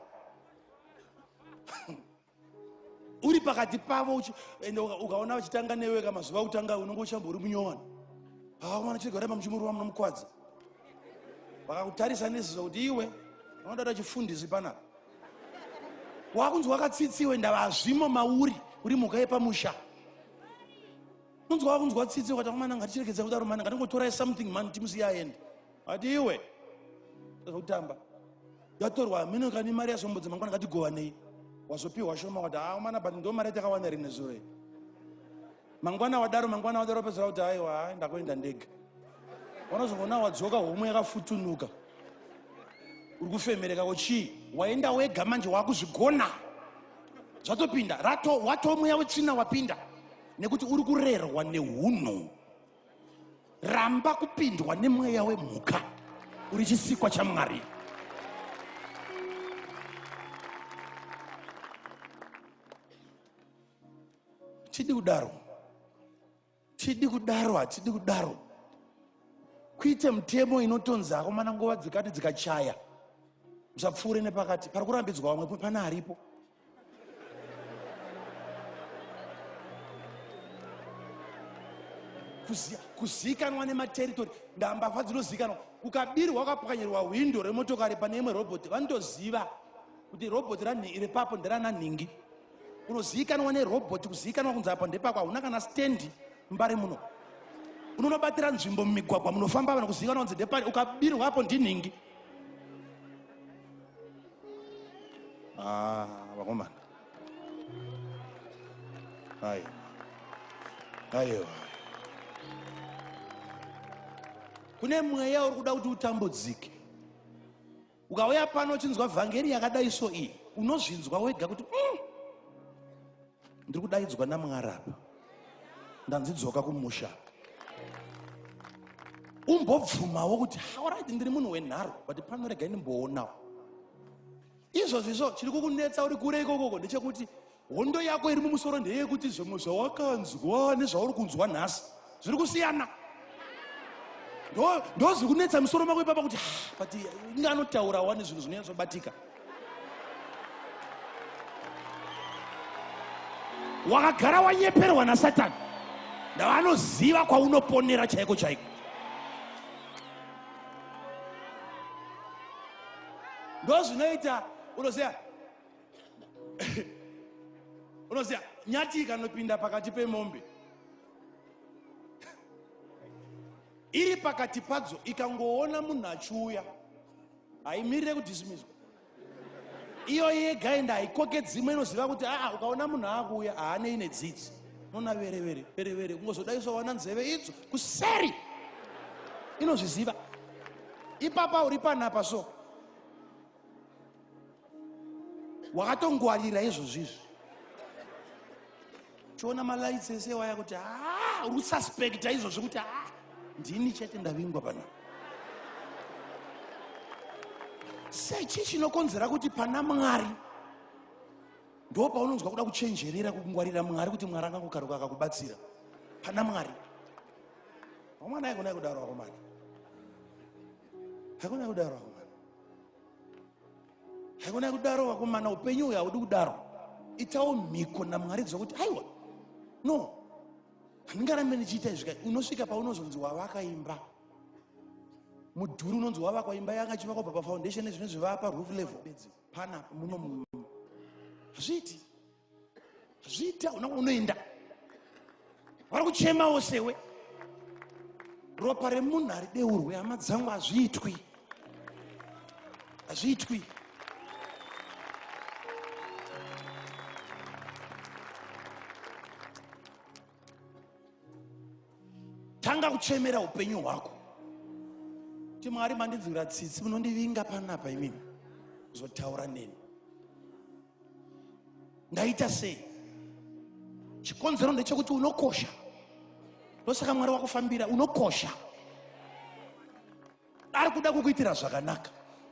uri pakati pavo ende ukaona vachitanga newe ka mazuva okutanga unenge uchambori munyowani haa mwana chirega ramba muchimurova munomukwadza vakakutarisa neziso kuti iwe unoda kuda chifundisi panapa wakunzi wakatsitsiwe ndava hazvimo mauri uri mhuka yepamusha unzwa wakunzwa tsitsi ukati amana ngatichirekedza kudaro mana ngatingotorai something mani timusiya aende ati iwe zvekutamba yatorwa hameno kani mari yasombo dzemangwana ngatigovanei wazopiwa shoma wati haa ah, mana but ndo mari yatakawana rinezuro mangwana wadaro mangwana wadaro wapedzera kuti aiwa hai ndakuenda ndega wanozongoona wadzoka homwe yakafutunuka uri kufemereka ko chii waenda wega manje wakuzvigona zvatopinda rato wato mweya wetsvina wapinda nekuti uri kurerwa neunhu ramba kupindwa nemweya wemhuka uri chisikwa chamwari tidi kudaro tidi kudaro hatidi kudaro kuite mutemo inotonzi akomana nguva dzikati dzikachaya musapfuure nepakati pari kurambidzwa vamwe pana aripo kuzikanwa nemateritori ndambavha dzinozikanwa ukabirwa ukapwanyirwa hwindo remotokari pane imwe robhoti vanotoziva kuti robhoti repapo nderananhingi unozivikanwa nerobhoti kuzivikanwa kunzi apa ndepako hauna kana stendi mbare muno unonobatira nzvimbo mumigwagwa munofamba vanhu kuzivikanwa kunzi ndepari ukabirwa apo ndinhingi ah, vakomana aiwa aiwa kune mweya uri kuda kuti utambudzike ukauya pano uchinzwa vhangeri yakadai so iyi unozvinzwa wega kuti mm, ndiri kudaidzwa namwari apa ndanzi dzoka kumusha umbobvumawo kuti hauraiti ndiri munhu wenharo but pano rega indimboonawo izvozvi izvo chiri kukunetsa uri kure ikokoko ndechekuti Hondo yako iri mumusoro ndeyekuti zvimwe zvawakanzwa nezvauri kunzwa nhasi zviri kusiyana ndozviri kunetsa musoro mako ipapa kuti ah, but inge anotaura wani zvinhu zvinonyatsobatika wakagara wanyeperwa nasatani ndavanoziva kwaunoponera chaiko chaiko ndozvinoita unoziva unoziva nyati ikanopinda pakati pemombe iri pakati padzo ikangoona munhu achiuya haimirire kudhisimiswa iyo yega enda haikoke dzimwe inoziva kuti aa ukaona munhu aakuuya haanei nedzidzi nona verevere verevere kungozodaiswa wana nzeve idzo kuseri inozviziva ipapa uri panapa so wakatongwarira izvozvi izvi chiona malights ese waya kuti haa uri kususpecta izvozvi kuti haa ndini chete ndavingwa pana sechii chinokonzera kuti pana mwari ndo paunonzwa kuda kuchenjerera kukungwarira mwari kuti mwari angangokaruka akakubatsira pana mwari vamwana aikona kudaro vakomana aikona kudaro vakomana haikona kudaro vakomana upenyu uyo haudi kudaro itawo mhiko namwari kuziva kuti aiwa no handingarambe ndichiita izvika unosvika paunozonzi wavakaimba mudhuri unonzi wavakwa imba yanga chivakwa bva pafoundation ezvino zvivaa paroof level panapa muno hazviiti zviita una unoenda vari kuchemawo sewe ropa remunhu harideurwe hama dzangu hazviitwi hazviitwi tanga kuchemera upenyu hwako ti mwari mandinzwira tsitsi munondivinga panapa imimi zotaura neni ndaita sei chikonzero ndechekuti unokosha ndosaka mwari wakufambira unokosha ari kuda kukuitira zvakanaka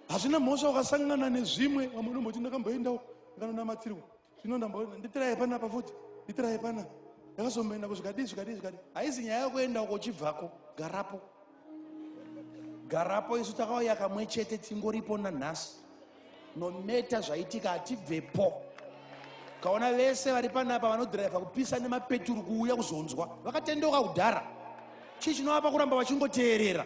hazvina mhosva wakasangana nezvimwe vamwe unomboti ndakamboendawo akanonamatsirwa zvino ndamboona nditiraye pana pa futi nditiraye pana ndakazomboenda kuzvikadii zvikadii zvikadii haizi nyaya yokuenda uko uchibvako garapo garapo isu takauya kamwe chete tingoripo nanhasi nometa zvaitika hatibvepo kaona vese vari panapa vanodhiraivha kupisa nemapeturu kuuya kuzonzwa vakatendeuka kudhara chii chinovapa kuramba vachingoteerera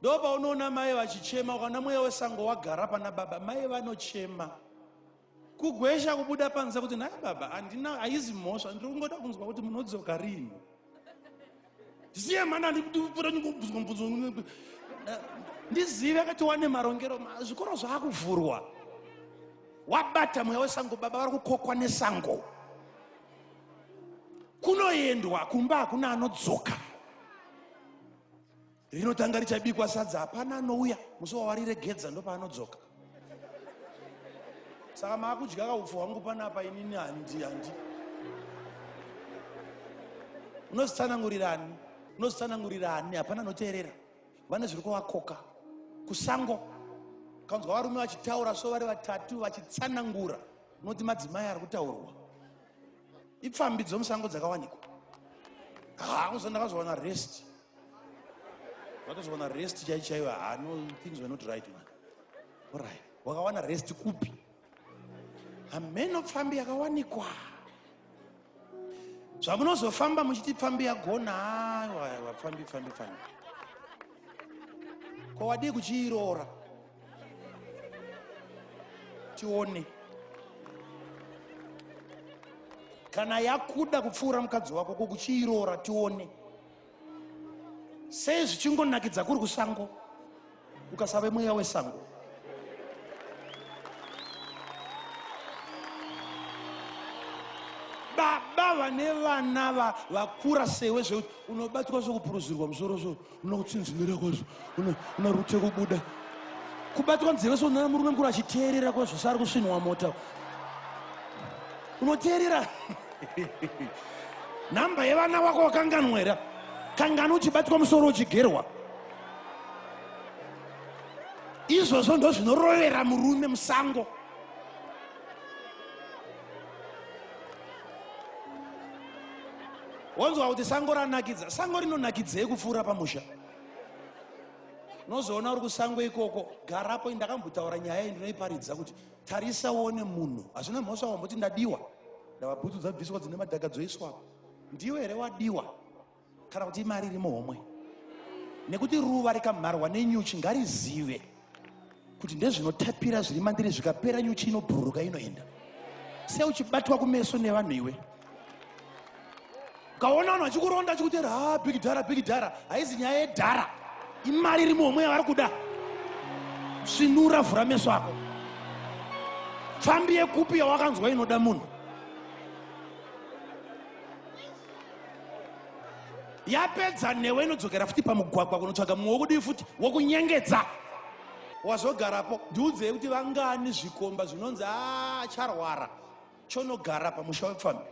ndo paunoona mai vachichema ukana mweya wesango wagara pana baba mai vanochema kugwesha kubuda panze kuti nhai baba handina haizi mhosva ndiri kungoda kunzwa kuti munodzoka rini ndisiye mhana ndipura ndingobvunzwa mubvunzo ndizive kati wane marongero zvikoro zvaakuvhurwa wabata mweya wesango baba vari kukokwa nesango kunoendwa kumba hakuna anodzoka rinotanga richabikwa sadza hapana anouya musi wawariregedza ndopaanodzoka saka maakudya kaupfu hwangu panapa inini handi handi unozitsanangurira ani unozitsanangurira ani hapana anoteerera vane zviri kuvakoka kusango kanzwa varume vachitaura so vari vatatu vachitsanangura unoti madzimai ari kutaurwa ipfambi dzomusango dzakawanikwa haa kuzo ndakazowana rest vatozowana rest chai chaiyo haa no things were not right man orit wakawana rest kupi hameno pfambi yakawanikwa zvamunozofamba muchiti pfambi yagona aiwa pfambi pfambi pfambi ko wadii kuchiiroora tione kana yakuda kupfuura mukadzi wako ko kuchiiroora tione sei zvichingonakidza kuri kusango ukasave mweya wesango baba vane vana vakura sewe zvekuti unobatwa zvekupuruzirwa musoro soro unoda kutsinzinira kwazvo una rute kubuda kubatwa nzeve sonana murume mukuru achiteerera kwazvo saari kusvinwa mota unoteerera nhamba yevana wako wakanganwera kangani uchibatwa musoro uchigerwa izvozvo ndozvinorovera murume musango wonzwa kuti sango ranakidza sango rinonakidzei kupfuura pamusha unozoona uri kusango ikoko garapo ndakambotaura nyaya iyi ndinoiparidza kuti tarisa uone munhu hazvina mhosva wamboti ndadiwa ndavabhutsu dzabviswa dzine madhaka dzoiswa ndiwe here wadiwa kana kuti imari iri muhomwe nekuti ruva rikamharwa nenyuchi ngarizive kuti ndezvinotapira zviri mandiri zvikapera nyuchi inobhururuka inoenda sei uchibatwa kumeso nevanhu iwe ukaona vanhu vachikuronda chikutera ha ah, big dhara big dhara haizi nyaya yedhara imari iri muhomwe yavari kuda svinura vhura meso ako pfambi yekupi yawakanzwa inoda munhu yapedza newe inodzokera futi pamugwagwa kunotsvaga mumwe wokudii futi wokunyengedza wazogarapo ndiudzei kuti vangani zvikomba zvinonzi acharwara ah, chonogara pamusha wepfambi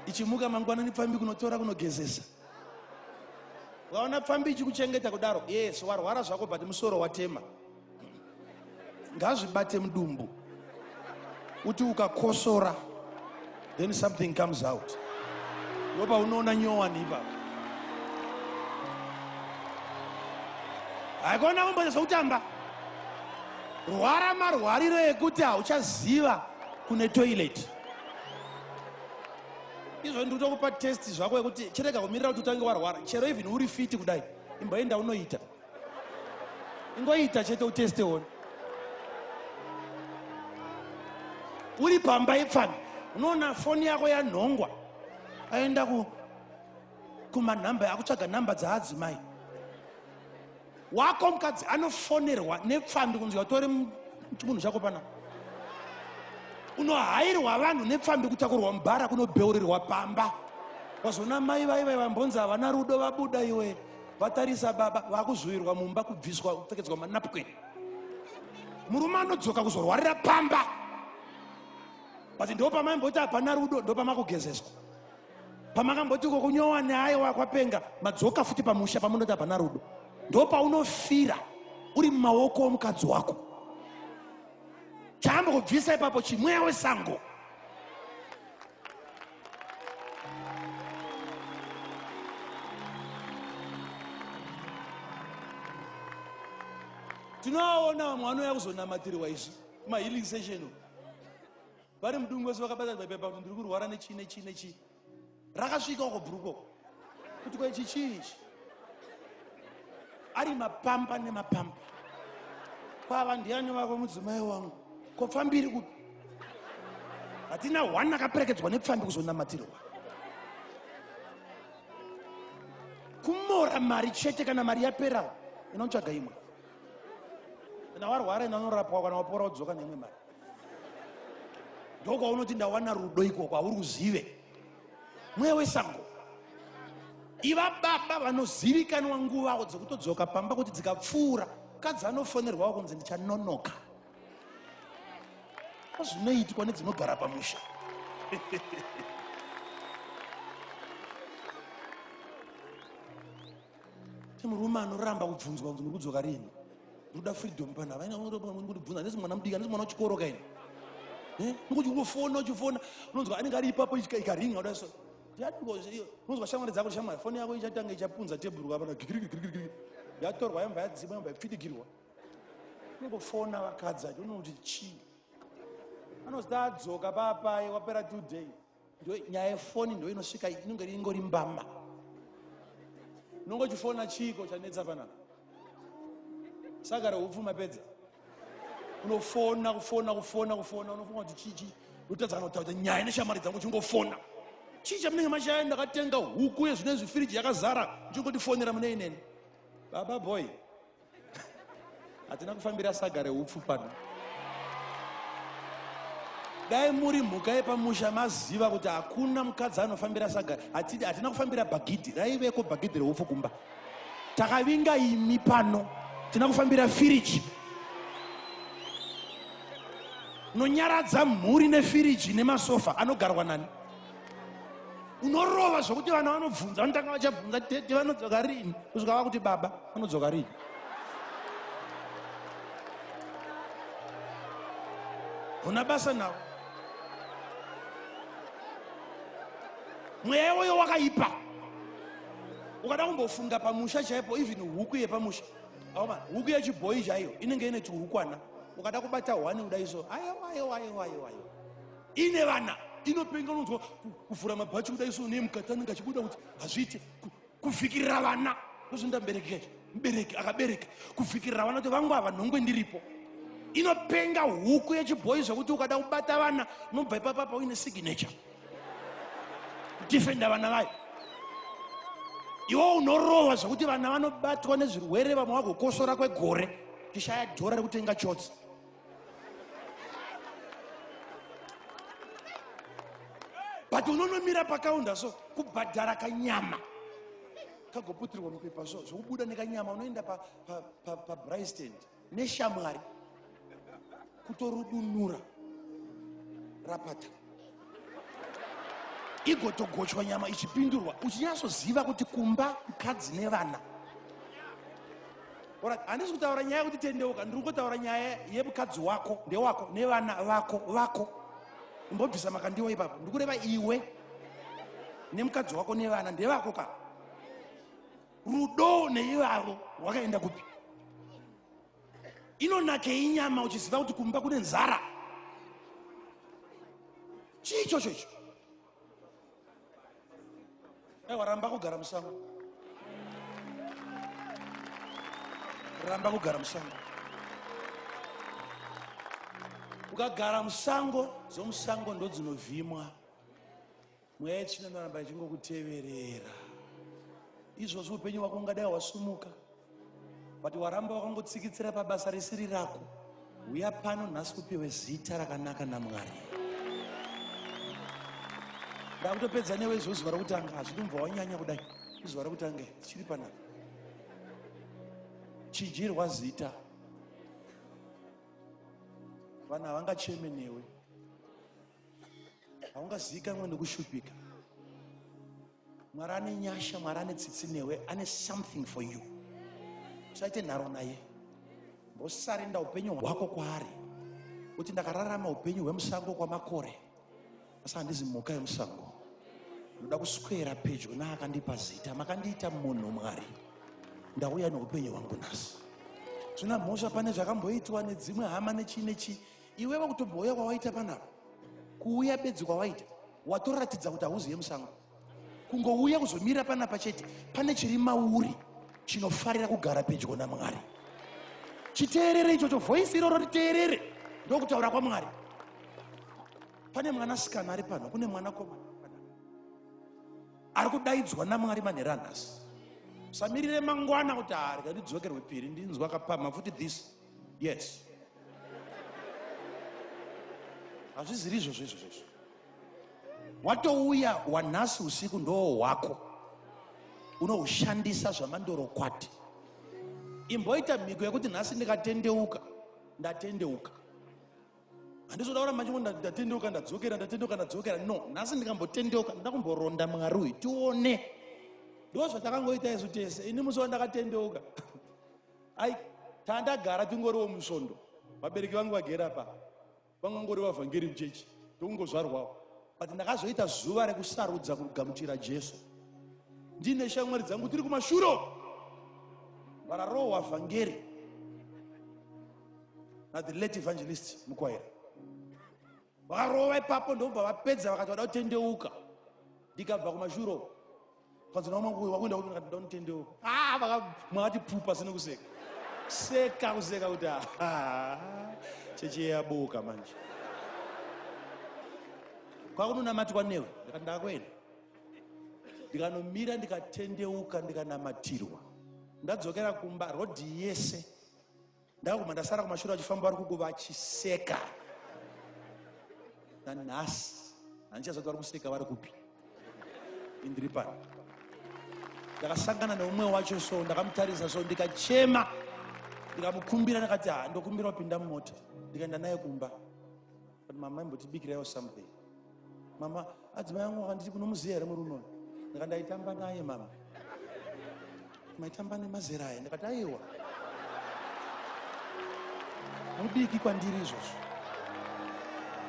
ichimuka mangwanani pfambi kunotora kunogezesa vaona pfambi ichikuchengeta kudaro yes warwara zvako but musoro watema ngazvibate mudumbu kuti ukakosora then something comes out ndopa unoona nyowani ipapo haikona kumboita zvekutamba rwara marwariro ekuti hauchaziva kune toilet izvo ndikutokupa test zvako yekuti chirega kumirira kuti utange warwara chero even uri fiti kudai imboenda unoita ingoita chete uteste one uri pamba ipfana unoona foni yako yanhongwa aenda ku kumanhamba akutsvaga nhamba dzaadzimai wako mukadzi anofonerwa nepfambi kunzi watore chimunhu chako pana unohairwa vanhu nepfambi kutakurwa mubhara kunobheurirwa pamba wazona mai vaivai vambonzi havana rudo vabuda iwe vatarisa baba vakuzvuvirwa mumba kubviswa kupfekedzwa manapkin murume anodzoka kuzorwarira pamba but ndo pamaimboti hapana rudo ndo pamakugezeswa pamakamboti uko kunyowa neayo wakwapenga madzoka futi pamusha pamunoti hapana rudo ndo paunofira uri mumaoko omukadzi wako chaambo kubvisa ipapo chimweya wesango tinoaona vamwe vanouya kuzonamatirwa izvi mahealing session vari mudungu vese vakabatana papepa kuti ndiri kurwara nechii nechii nechii rakasvika uko bhurukoko kuti ko ichi chii ichi ari mapamba nemapamba kwava ndiani vako mudzimai wangu ko pfambi iri kupi hatina one akaperekedzwa nepfambi kuzonamatirwa kumora mari chete kana mari yapera inotsvaga imwe kana warwara inanorapwa kana wapora wodzoka neimwe mari ndokwaunoti ndawana rudo ikoko hauri kuzive mweya wesango iva baba vanozivikanwa nguvawo dzekutodzoka pamba kuti dzikapfuura mukadzi anofonerwawo kunzi ndichanonoka zvinoitwa nedzinogara pamusha Murume anoramba kubvunzwa kuti muri kudzoka rini? Ndoda freedom pana vaina muri kundibvunza handisi mwana mudiki handisi mwana wechikoro kaini. Eh? Ngokuti unofona uchifona unonzwa anenge ari ipapo ikaringa kudai so. Unonzwa shamwari dzako shamwari foni yako ichatanga ichapunza tebhuru kapana gigirigirigirigiri. Yatorwa yamba yadzima yamba yapfidigirwa. Unongofona vakadzi acho unoona kuti chii? Anozita adzoka papai wapera two days. ndo nyaya yefoni ndo inosvika inonge ingori mbama unongo chifona chiiko chanetsa panapa sagara hupfuma pedza unofona kufona kufona kufona unofunga kuti chichi utadza kana kutaudza nyaya neshamari dzangu chingofona chii chamunenge mashaya ndakatenga huku yezvino izvi firiji yakazara ndichingotifonera mune ineni baba boy hatina kufambira saga reupfu pano dai muri mhuka yepamusha maziva kuti hakuna mukadzi anofambira saga hatina kufambira bhagidhi raiveko bhagidhi reupfu kumba takavinga imi pano tina kufambira firiji nonyaradza mhuri nefiriji nemasofa anogarwa nani unorova zvokuti vana vanobvunza vanotanga vachabvunza tete vanodzoka rini kusvika vakuti baba vanodzoka rini huna basa navo mweya iwoyo wakaipa ukada kumbofunga pamusha chaipo even huku yepamusha aoma huku yechibhoyi chaiyo inenge ine chihukwana ukada kubata hwani kudai so ayo ayo ayo ayo ayo ine vana inopenga unonzwa kuvhura mabhachi kuda iso ne mukati anenge achibuda kuti hazviite kuvhikirira vana ndozvinoda mubereki kacho mubereki akabereka kuvhikirira vana kuti vangu ava nhongwe ndiripo inopenga huku yechibhoyi zvekuti ukada kubata vana unobva ipapapa uine signature defenda vana vayo iwo unorohwa zvekuti vana vanobatwa nezvirwere vamwe vagokosora kwegore tishaya dhora rekutenga chotsi but unonomira pakaunda so kubhadhara kanyama kagoputirwa mupepa so zvokubuda nekanyama unoenda pabristand pa, pa, pa neshamwari kutorudunura rapata igotogochwa nyama ichipindurwa uchinyatsoziva kuti kumba mukadzi nevana handisi kutaura nyaya yekuti tendeuka ndiri kungotaura nyaya yemukadzi wako ndewako nevana vako vako imbobvisa makandiwa ipapo ndiri kureva iwe nemukadzi wako nevana ndevako ka rudo neivavo rwakaenda kupi inonakei nyama uchiziva kuti kumba kune nzara chii ichocho icho aiwa ramba kugara musango ramba kugara musango ukagara musango dzomusango ndodzinovhimwa Mweya yetsvina inoramba ichingokuteverera. Izvozvi upenyu hwako ungadai hwasumuka, but waramba wakangotsikitsira pabasa risiri rako. Huya pano nhasi kupiwe zita rakanaka naMwari. Ndakutopedza newe izvo zuva rokutanga, hazvidi mubva wanyanya kudai. Izuva rokutanga tichiri panapa. Chinjirwa zita. Vanhu havangacheme newe. haungazivikanwe nekushupika mwari ane nyasha mwari ane tsitsi newe ane something for you usaite nharo naye mbosarenda upenyu hwako kwaari kuti ndakararama upenyu hwemusango kwamakore asi handizi mhuka yemusango ndoda kuswera pedyo naakandipa zita makandiita munhu mwari ndauya neupenyu hwangu nhasi zvina mhosva pane zvakamboitwa nedzimwe hama nechii nechii Iwe vakutobhoya kwawaita panapa kuuya bedzi kwawaita watoratidza kuti hauzive musango kungouya kuzomira panapa chete pane chiri mauri chinofarira kugara pedyo namwari chiteerere ichocho voisi iroro riteerere ndokutaura kwamwari pane mwana sikana ari pano kune mwana komana ari kudaidzwa namwari manhera nhasi samirire mangwana kuti haarga ndidzokerwe piri ndinzwa kapama futi this yes hazviziri izvozvo izvozvo izvo watouya wanhasi usiku ndoo hwako unoushandisa zvamandorokwati imboita mhiko yekuti nhasi ndikatendeuka ndatendeuka handizoda kura manje ndatendeuka ndadzokera ndatendeuka ndadzokera no nhasi ndikambotendeuka ndoda kumboronda mwari uyu tione ndo zvatakangoita isu tese ini musi wandakatendeuka ai tandagara tingoriwo musvondo vabereki vangu vagera pa vanga ngori vavhangeri muchechi ndokungozvarwawo but ndakazoita zuva rekusarudza kugamuchira jesu ndine shamwari dzangu tiri kumashuro vararohwa vhangeri na the late evangelist mukwaira vakarova ipapo ndobva vapedza vakati vada kutendeuka ndikabva kumashuro panzi nawo mangu wakuenda kuti ndakati ndonitendewo ah vaka mwakati pupa sine kuseka seka kuseka kuti ah cheche yabuka manje kwakunonamati kwanewe ndikati ndakuenda ndikanomira ndikatendeuka ndikanamatirwa ndadzokera kumba rodhi yese Ndakaguma ndasara kumashure vachifamba vari kuku vachiseka. Nanhasi handichazoti vari kuseka vari kupi. Indiri pano. Ndakasangana neumwe wacho so ndakamutarisa so ndikachema ndikamukumbira ndakati ha ndokumbira kupinda mumota ndikaenda naye kumba. But mama imbotibikiraiwo something. Mama adzimai yangu akanditi kunomuziya here murume uyu? Ndikati ndaitamba naye mama. Maitamba nemazera aya ndikati aiwa. Mudiki kwandiri izvozvo.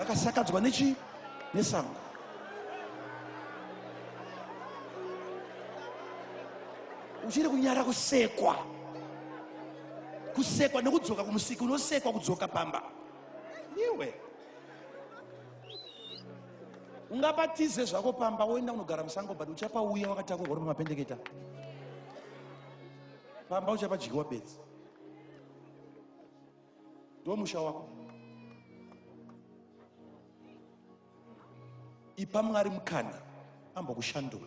Akasakadzwa nechi nesango. Uchiri kunyara kusekwa. Kusekwa nekudzoka kumusiki unosekwa kudzoka pamba. iwe ungapatize zvako pamba woenda unogara musango but uchapauya wakatakurwa uri pamapendeketa pamba uchapadyiwa bedzi ndomusha wako ipa mwari mukana ambokushandura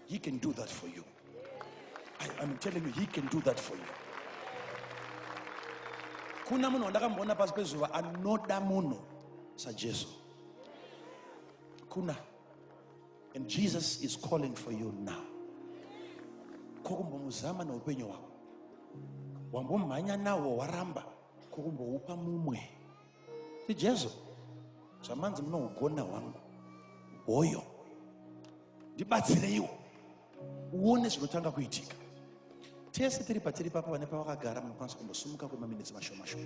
he can do that for you I, i'm telling you he can do that for you kuna munhu wandakamboona pasi pezuva anoda munhu sajesu kuna and jesus is calling for you now kokumbomuzama neupenyu hwako wambomhanya nawo waramba kokumboupa mumwe ti jesu zvamanzi munougona hwangu hoyo ndibatsireiwo uone zvinotanga kuitika tese tiri patiri papa vane pavakagara munokwanisa kumbosumuka kwemaminitsi mashomashoma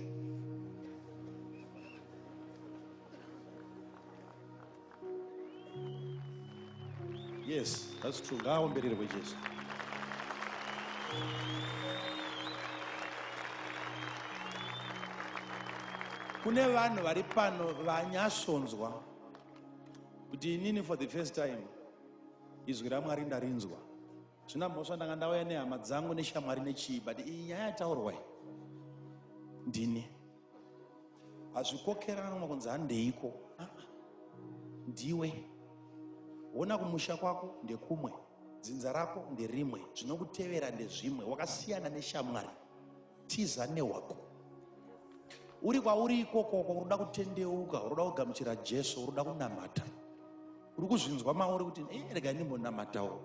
Yes, that's true. Ngaaombererwe Jesu. Kune vanhu vari pano vanyasonzwa kuti inini for the first time izwi raMwari ndarinzwa. Zvina mhosva ndanga ndauya nehama dzangu neshamwari nechii but iyi nyaya yataurwa ndini. hazvikokerana makunzi handeiko ah, ndiwe wona kumusha kwako ndekumwe dzinza rako nderimwe zvinokutevera ndezvimwe wakasiyana neshamwari tiza newako uri kwauri ikokoko unoda kutendeuka unoda kugamuchira jesu unoda kunamata uri kuzvinzwa mauri kuti eh, rega ndimbonamatawo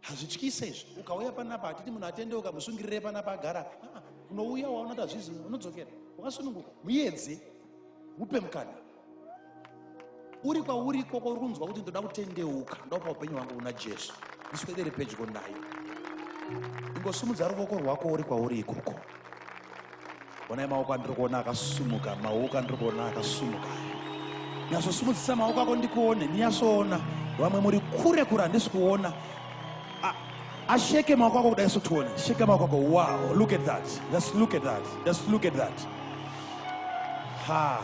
hazvityise izvi ukauya panapa hatiti munhu atendeuka musungirire panapa agara ah, unouya waona kuti hazvizi unodzokera wakasununguka muedze upe mukana uri kwauri ikoko uri kunzwa kuti ndoda kutendeuka ndopa upenyu hwangu una jesu ndiswedere pedyo nayo ingosumudza ruvoko rwako uri kwauri ikoko Onai maoko andiri kuona akasumuka, maoko andiri kuona akasumuka. Nyasosumudzisa maoko ako ndikuone, ndinyasoona. Vamwe muri kure kure handisi kuona. Asheke maoko ako kudai sotione. Sheka maoko ako. Wow, look at that. Let's look at that. Let's look at that. Ha.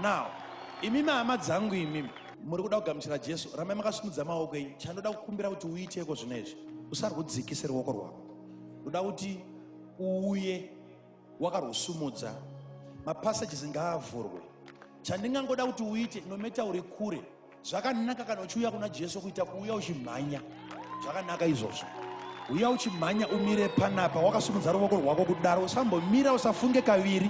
Now, imi mahama dzangu imi muri kuda kugamuchira Jesu, ramai makasimudza maoko enyu. Chandoda kukumbira kuti uiteiko zvino izvi? Usarwudzikise ruoko rwako. Uda kuti uuye wakarwusumudza mapassages ngaavhurwe chandingangoda kuti uite nometa uri kure zvakanaka kana uchiuya kuna jesu kuita kuuya uchimhanya zvakanaka izvozvo uya uchimhanya umire panapa wakasumudza ruvoko rwako kudaro usambomira usafunge kaviri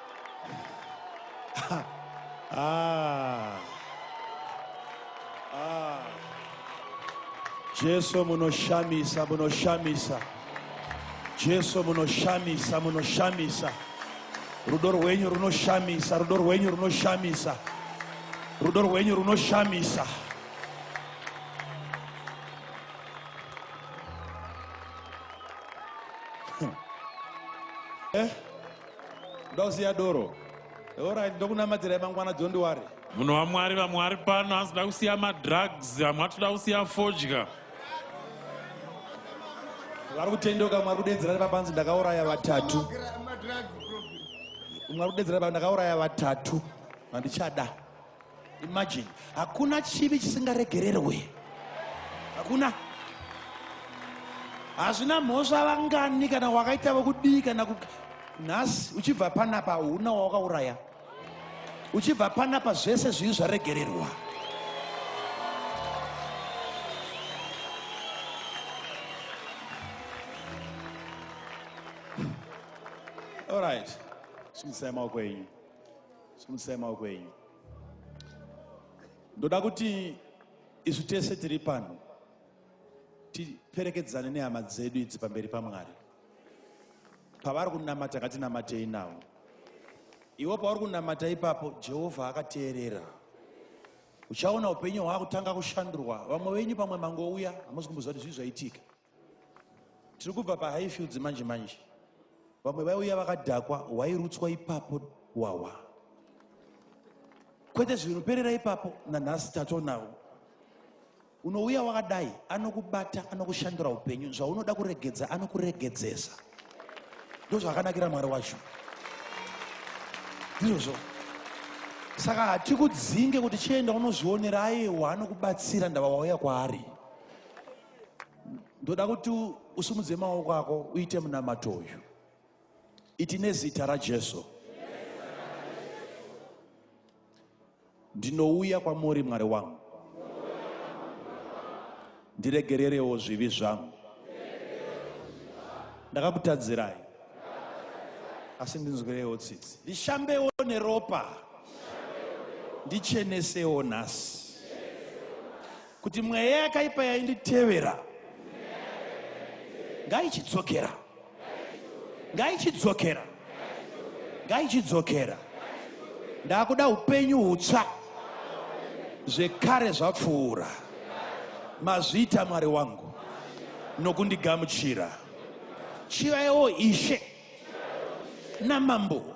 ah. Ah. Jesu munoshamisa munoshamisa Jesu munoshamisa munoshamisa rudo rwenyu runoshamisa rudo rwenyu runoshamisa rudo rwenyu runoshamisa eh? ndoda kusiya doro orit ndokunamatirai mangwana don't worry munhu wamwari vamwe vari pano hanzi da kusiya madrugs vamwe atoda kusiya fodya vari kutendeuka mwari kudedzera nepapanzi ndakauraya vatatu mwari kudedzera ndakauraya vatatu vandichada imagine hakuna chivi chisingaregererwe hakuna hazvina mhosva vangani kana wakaita vokudii kana nhasi uchibva panapa huna wawakauraya uchibva panapa zvese zvivi zvaregererwa All right. Simisai maoko enyu. simutsai maoko enyu ndoda kuti isu tese tiri pano tiperekedzane nehama dzedu idzi pamberi pamwari pavari kunamata ngatinamatei navo iwo pauri kunamata ipapo jehovha akateerera uchaona upenyu hwakutanga kushandurwa vamwe venyu pamwe mangouya hamusi kumboziva kuti zvii zvaitika tiri kubva pahighfields manje manje vamwe vaiuya vakadhakwa hwairutswa ipapo hwahwa kwete zvinoperera ipapo nanhasi tatonawo unouya wakadai anokubata anokushandura upenyu zvaunoda kuregedza anokuregedzesa ndozvakanakira mwari wacho ndizvozvo saka hatikudzinge kuti chienda unozvionera ayewa anokubatsira ndava wauya kwaari ndoda kuti usimudze maoko ako uite munamato uyu iti nezita rajesu ndinouya kwamuri mwari wangu ndiregererewo zvivi zvangu ndakakutadzirai asi ndinzwirewo tsitsi ndishambewo neropa ndichenesewo nhasi Kuti mweya yakaipa yainditevera ngaichidzokera, ngaichidzokera, ngaichidzokera. Ndakuda upenyu hutsva, zvekare zvapfuura. Mazviita Mwari wangu nokundigamuchira. Chivaiwo Ishe namambo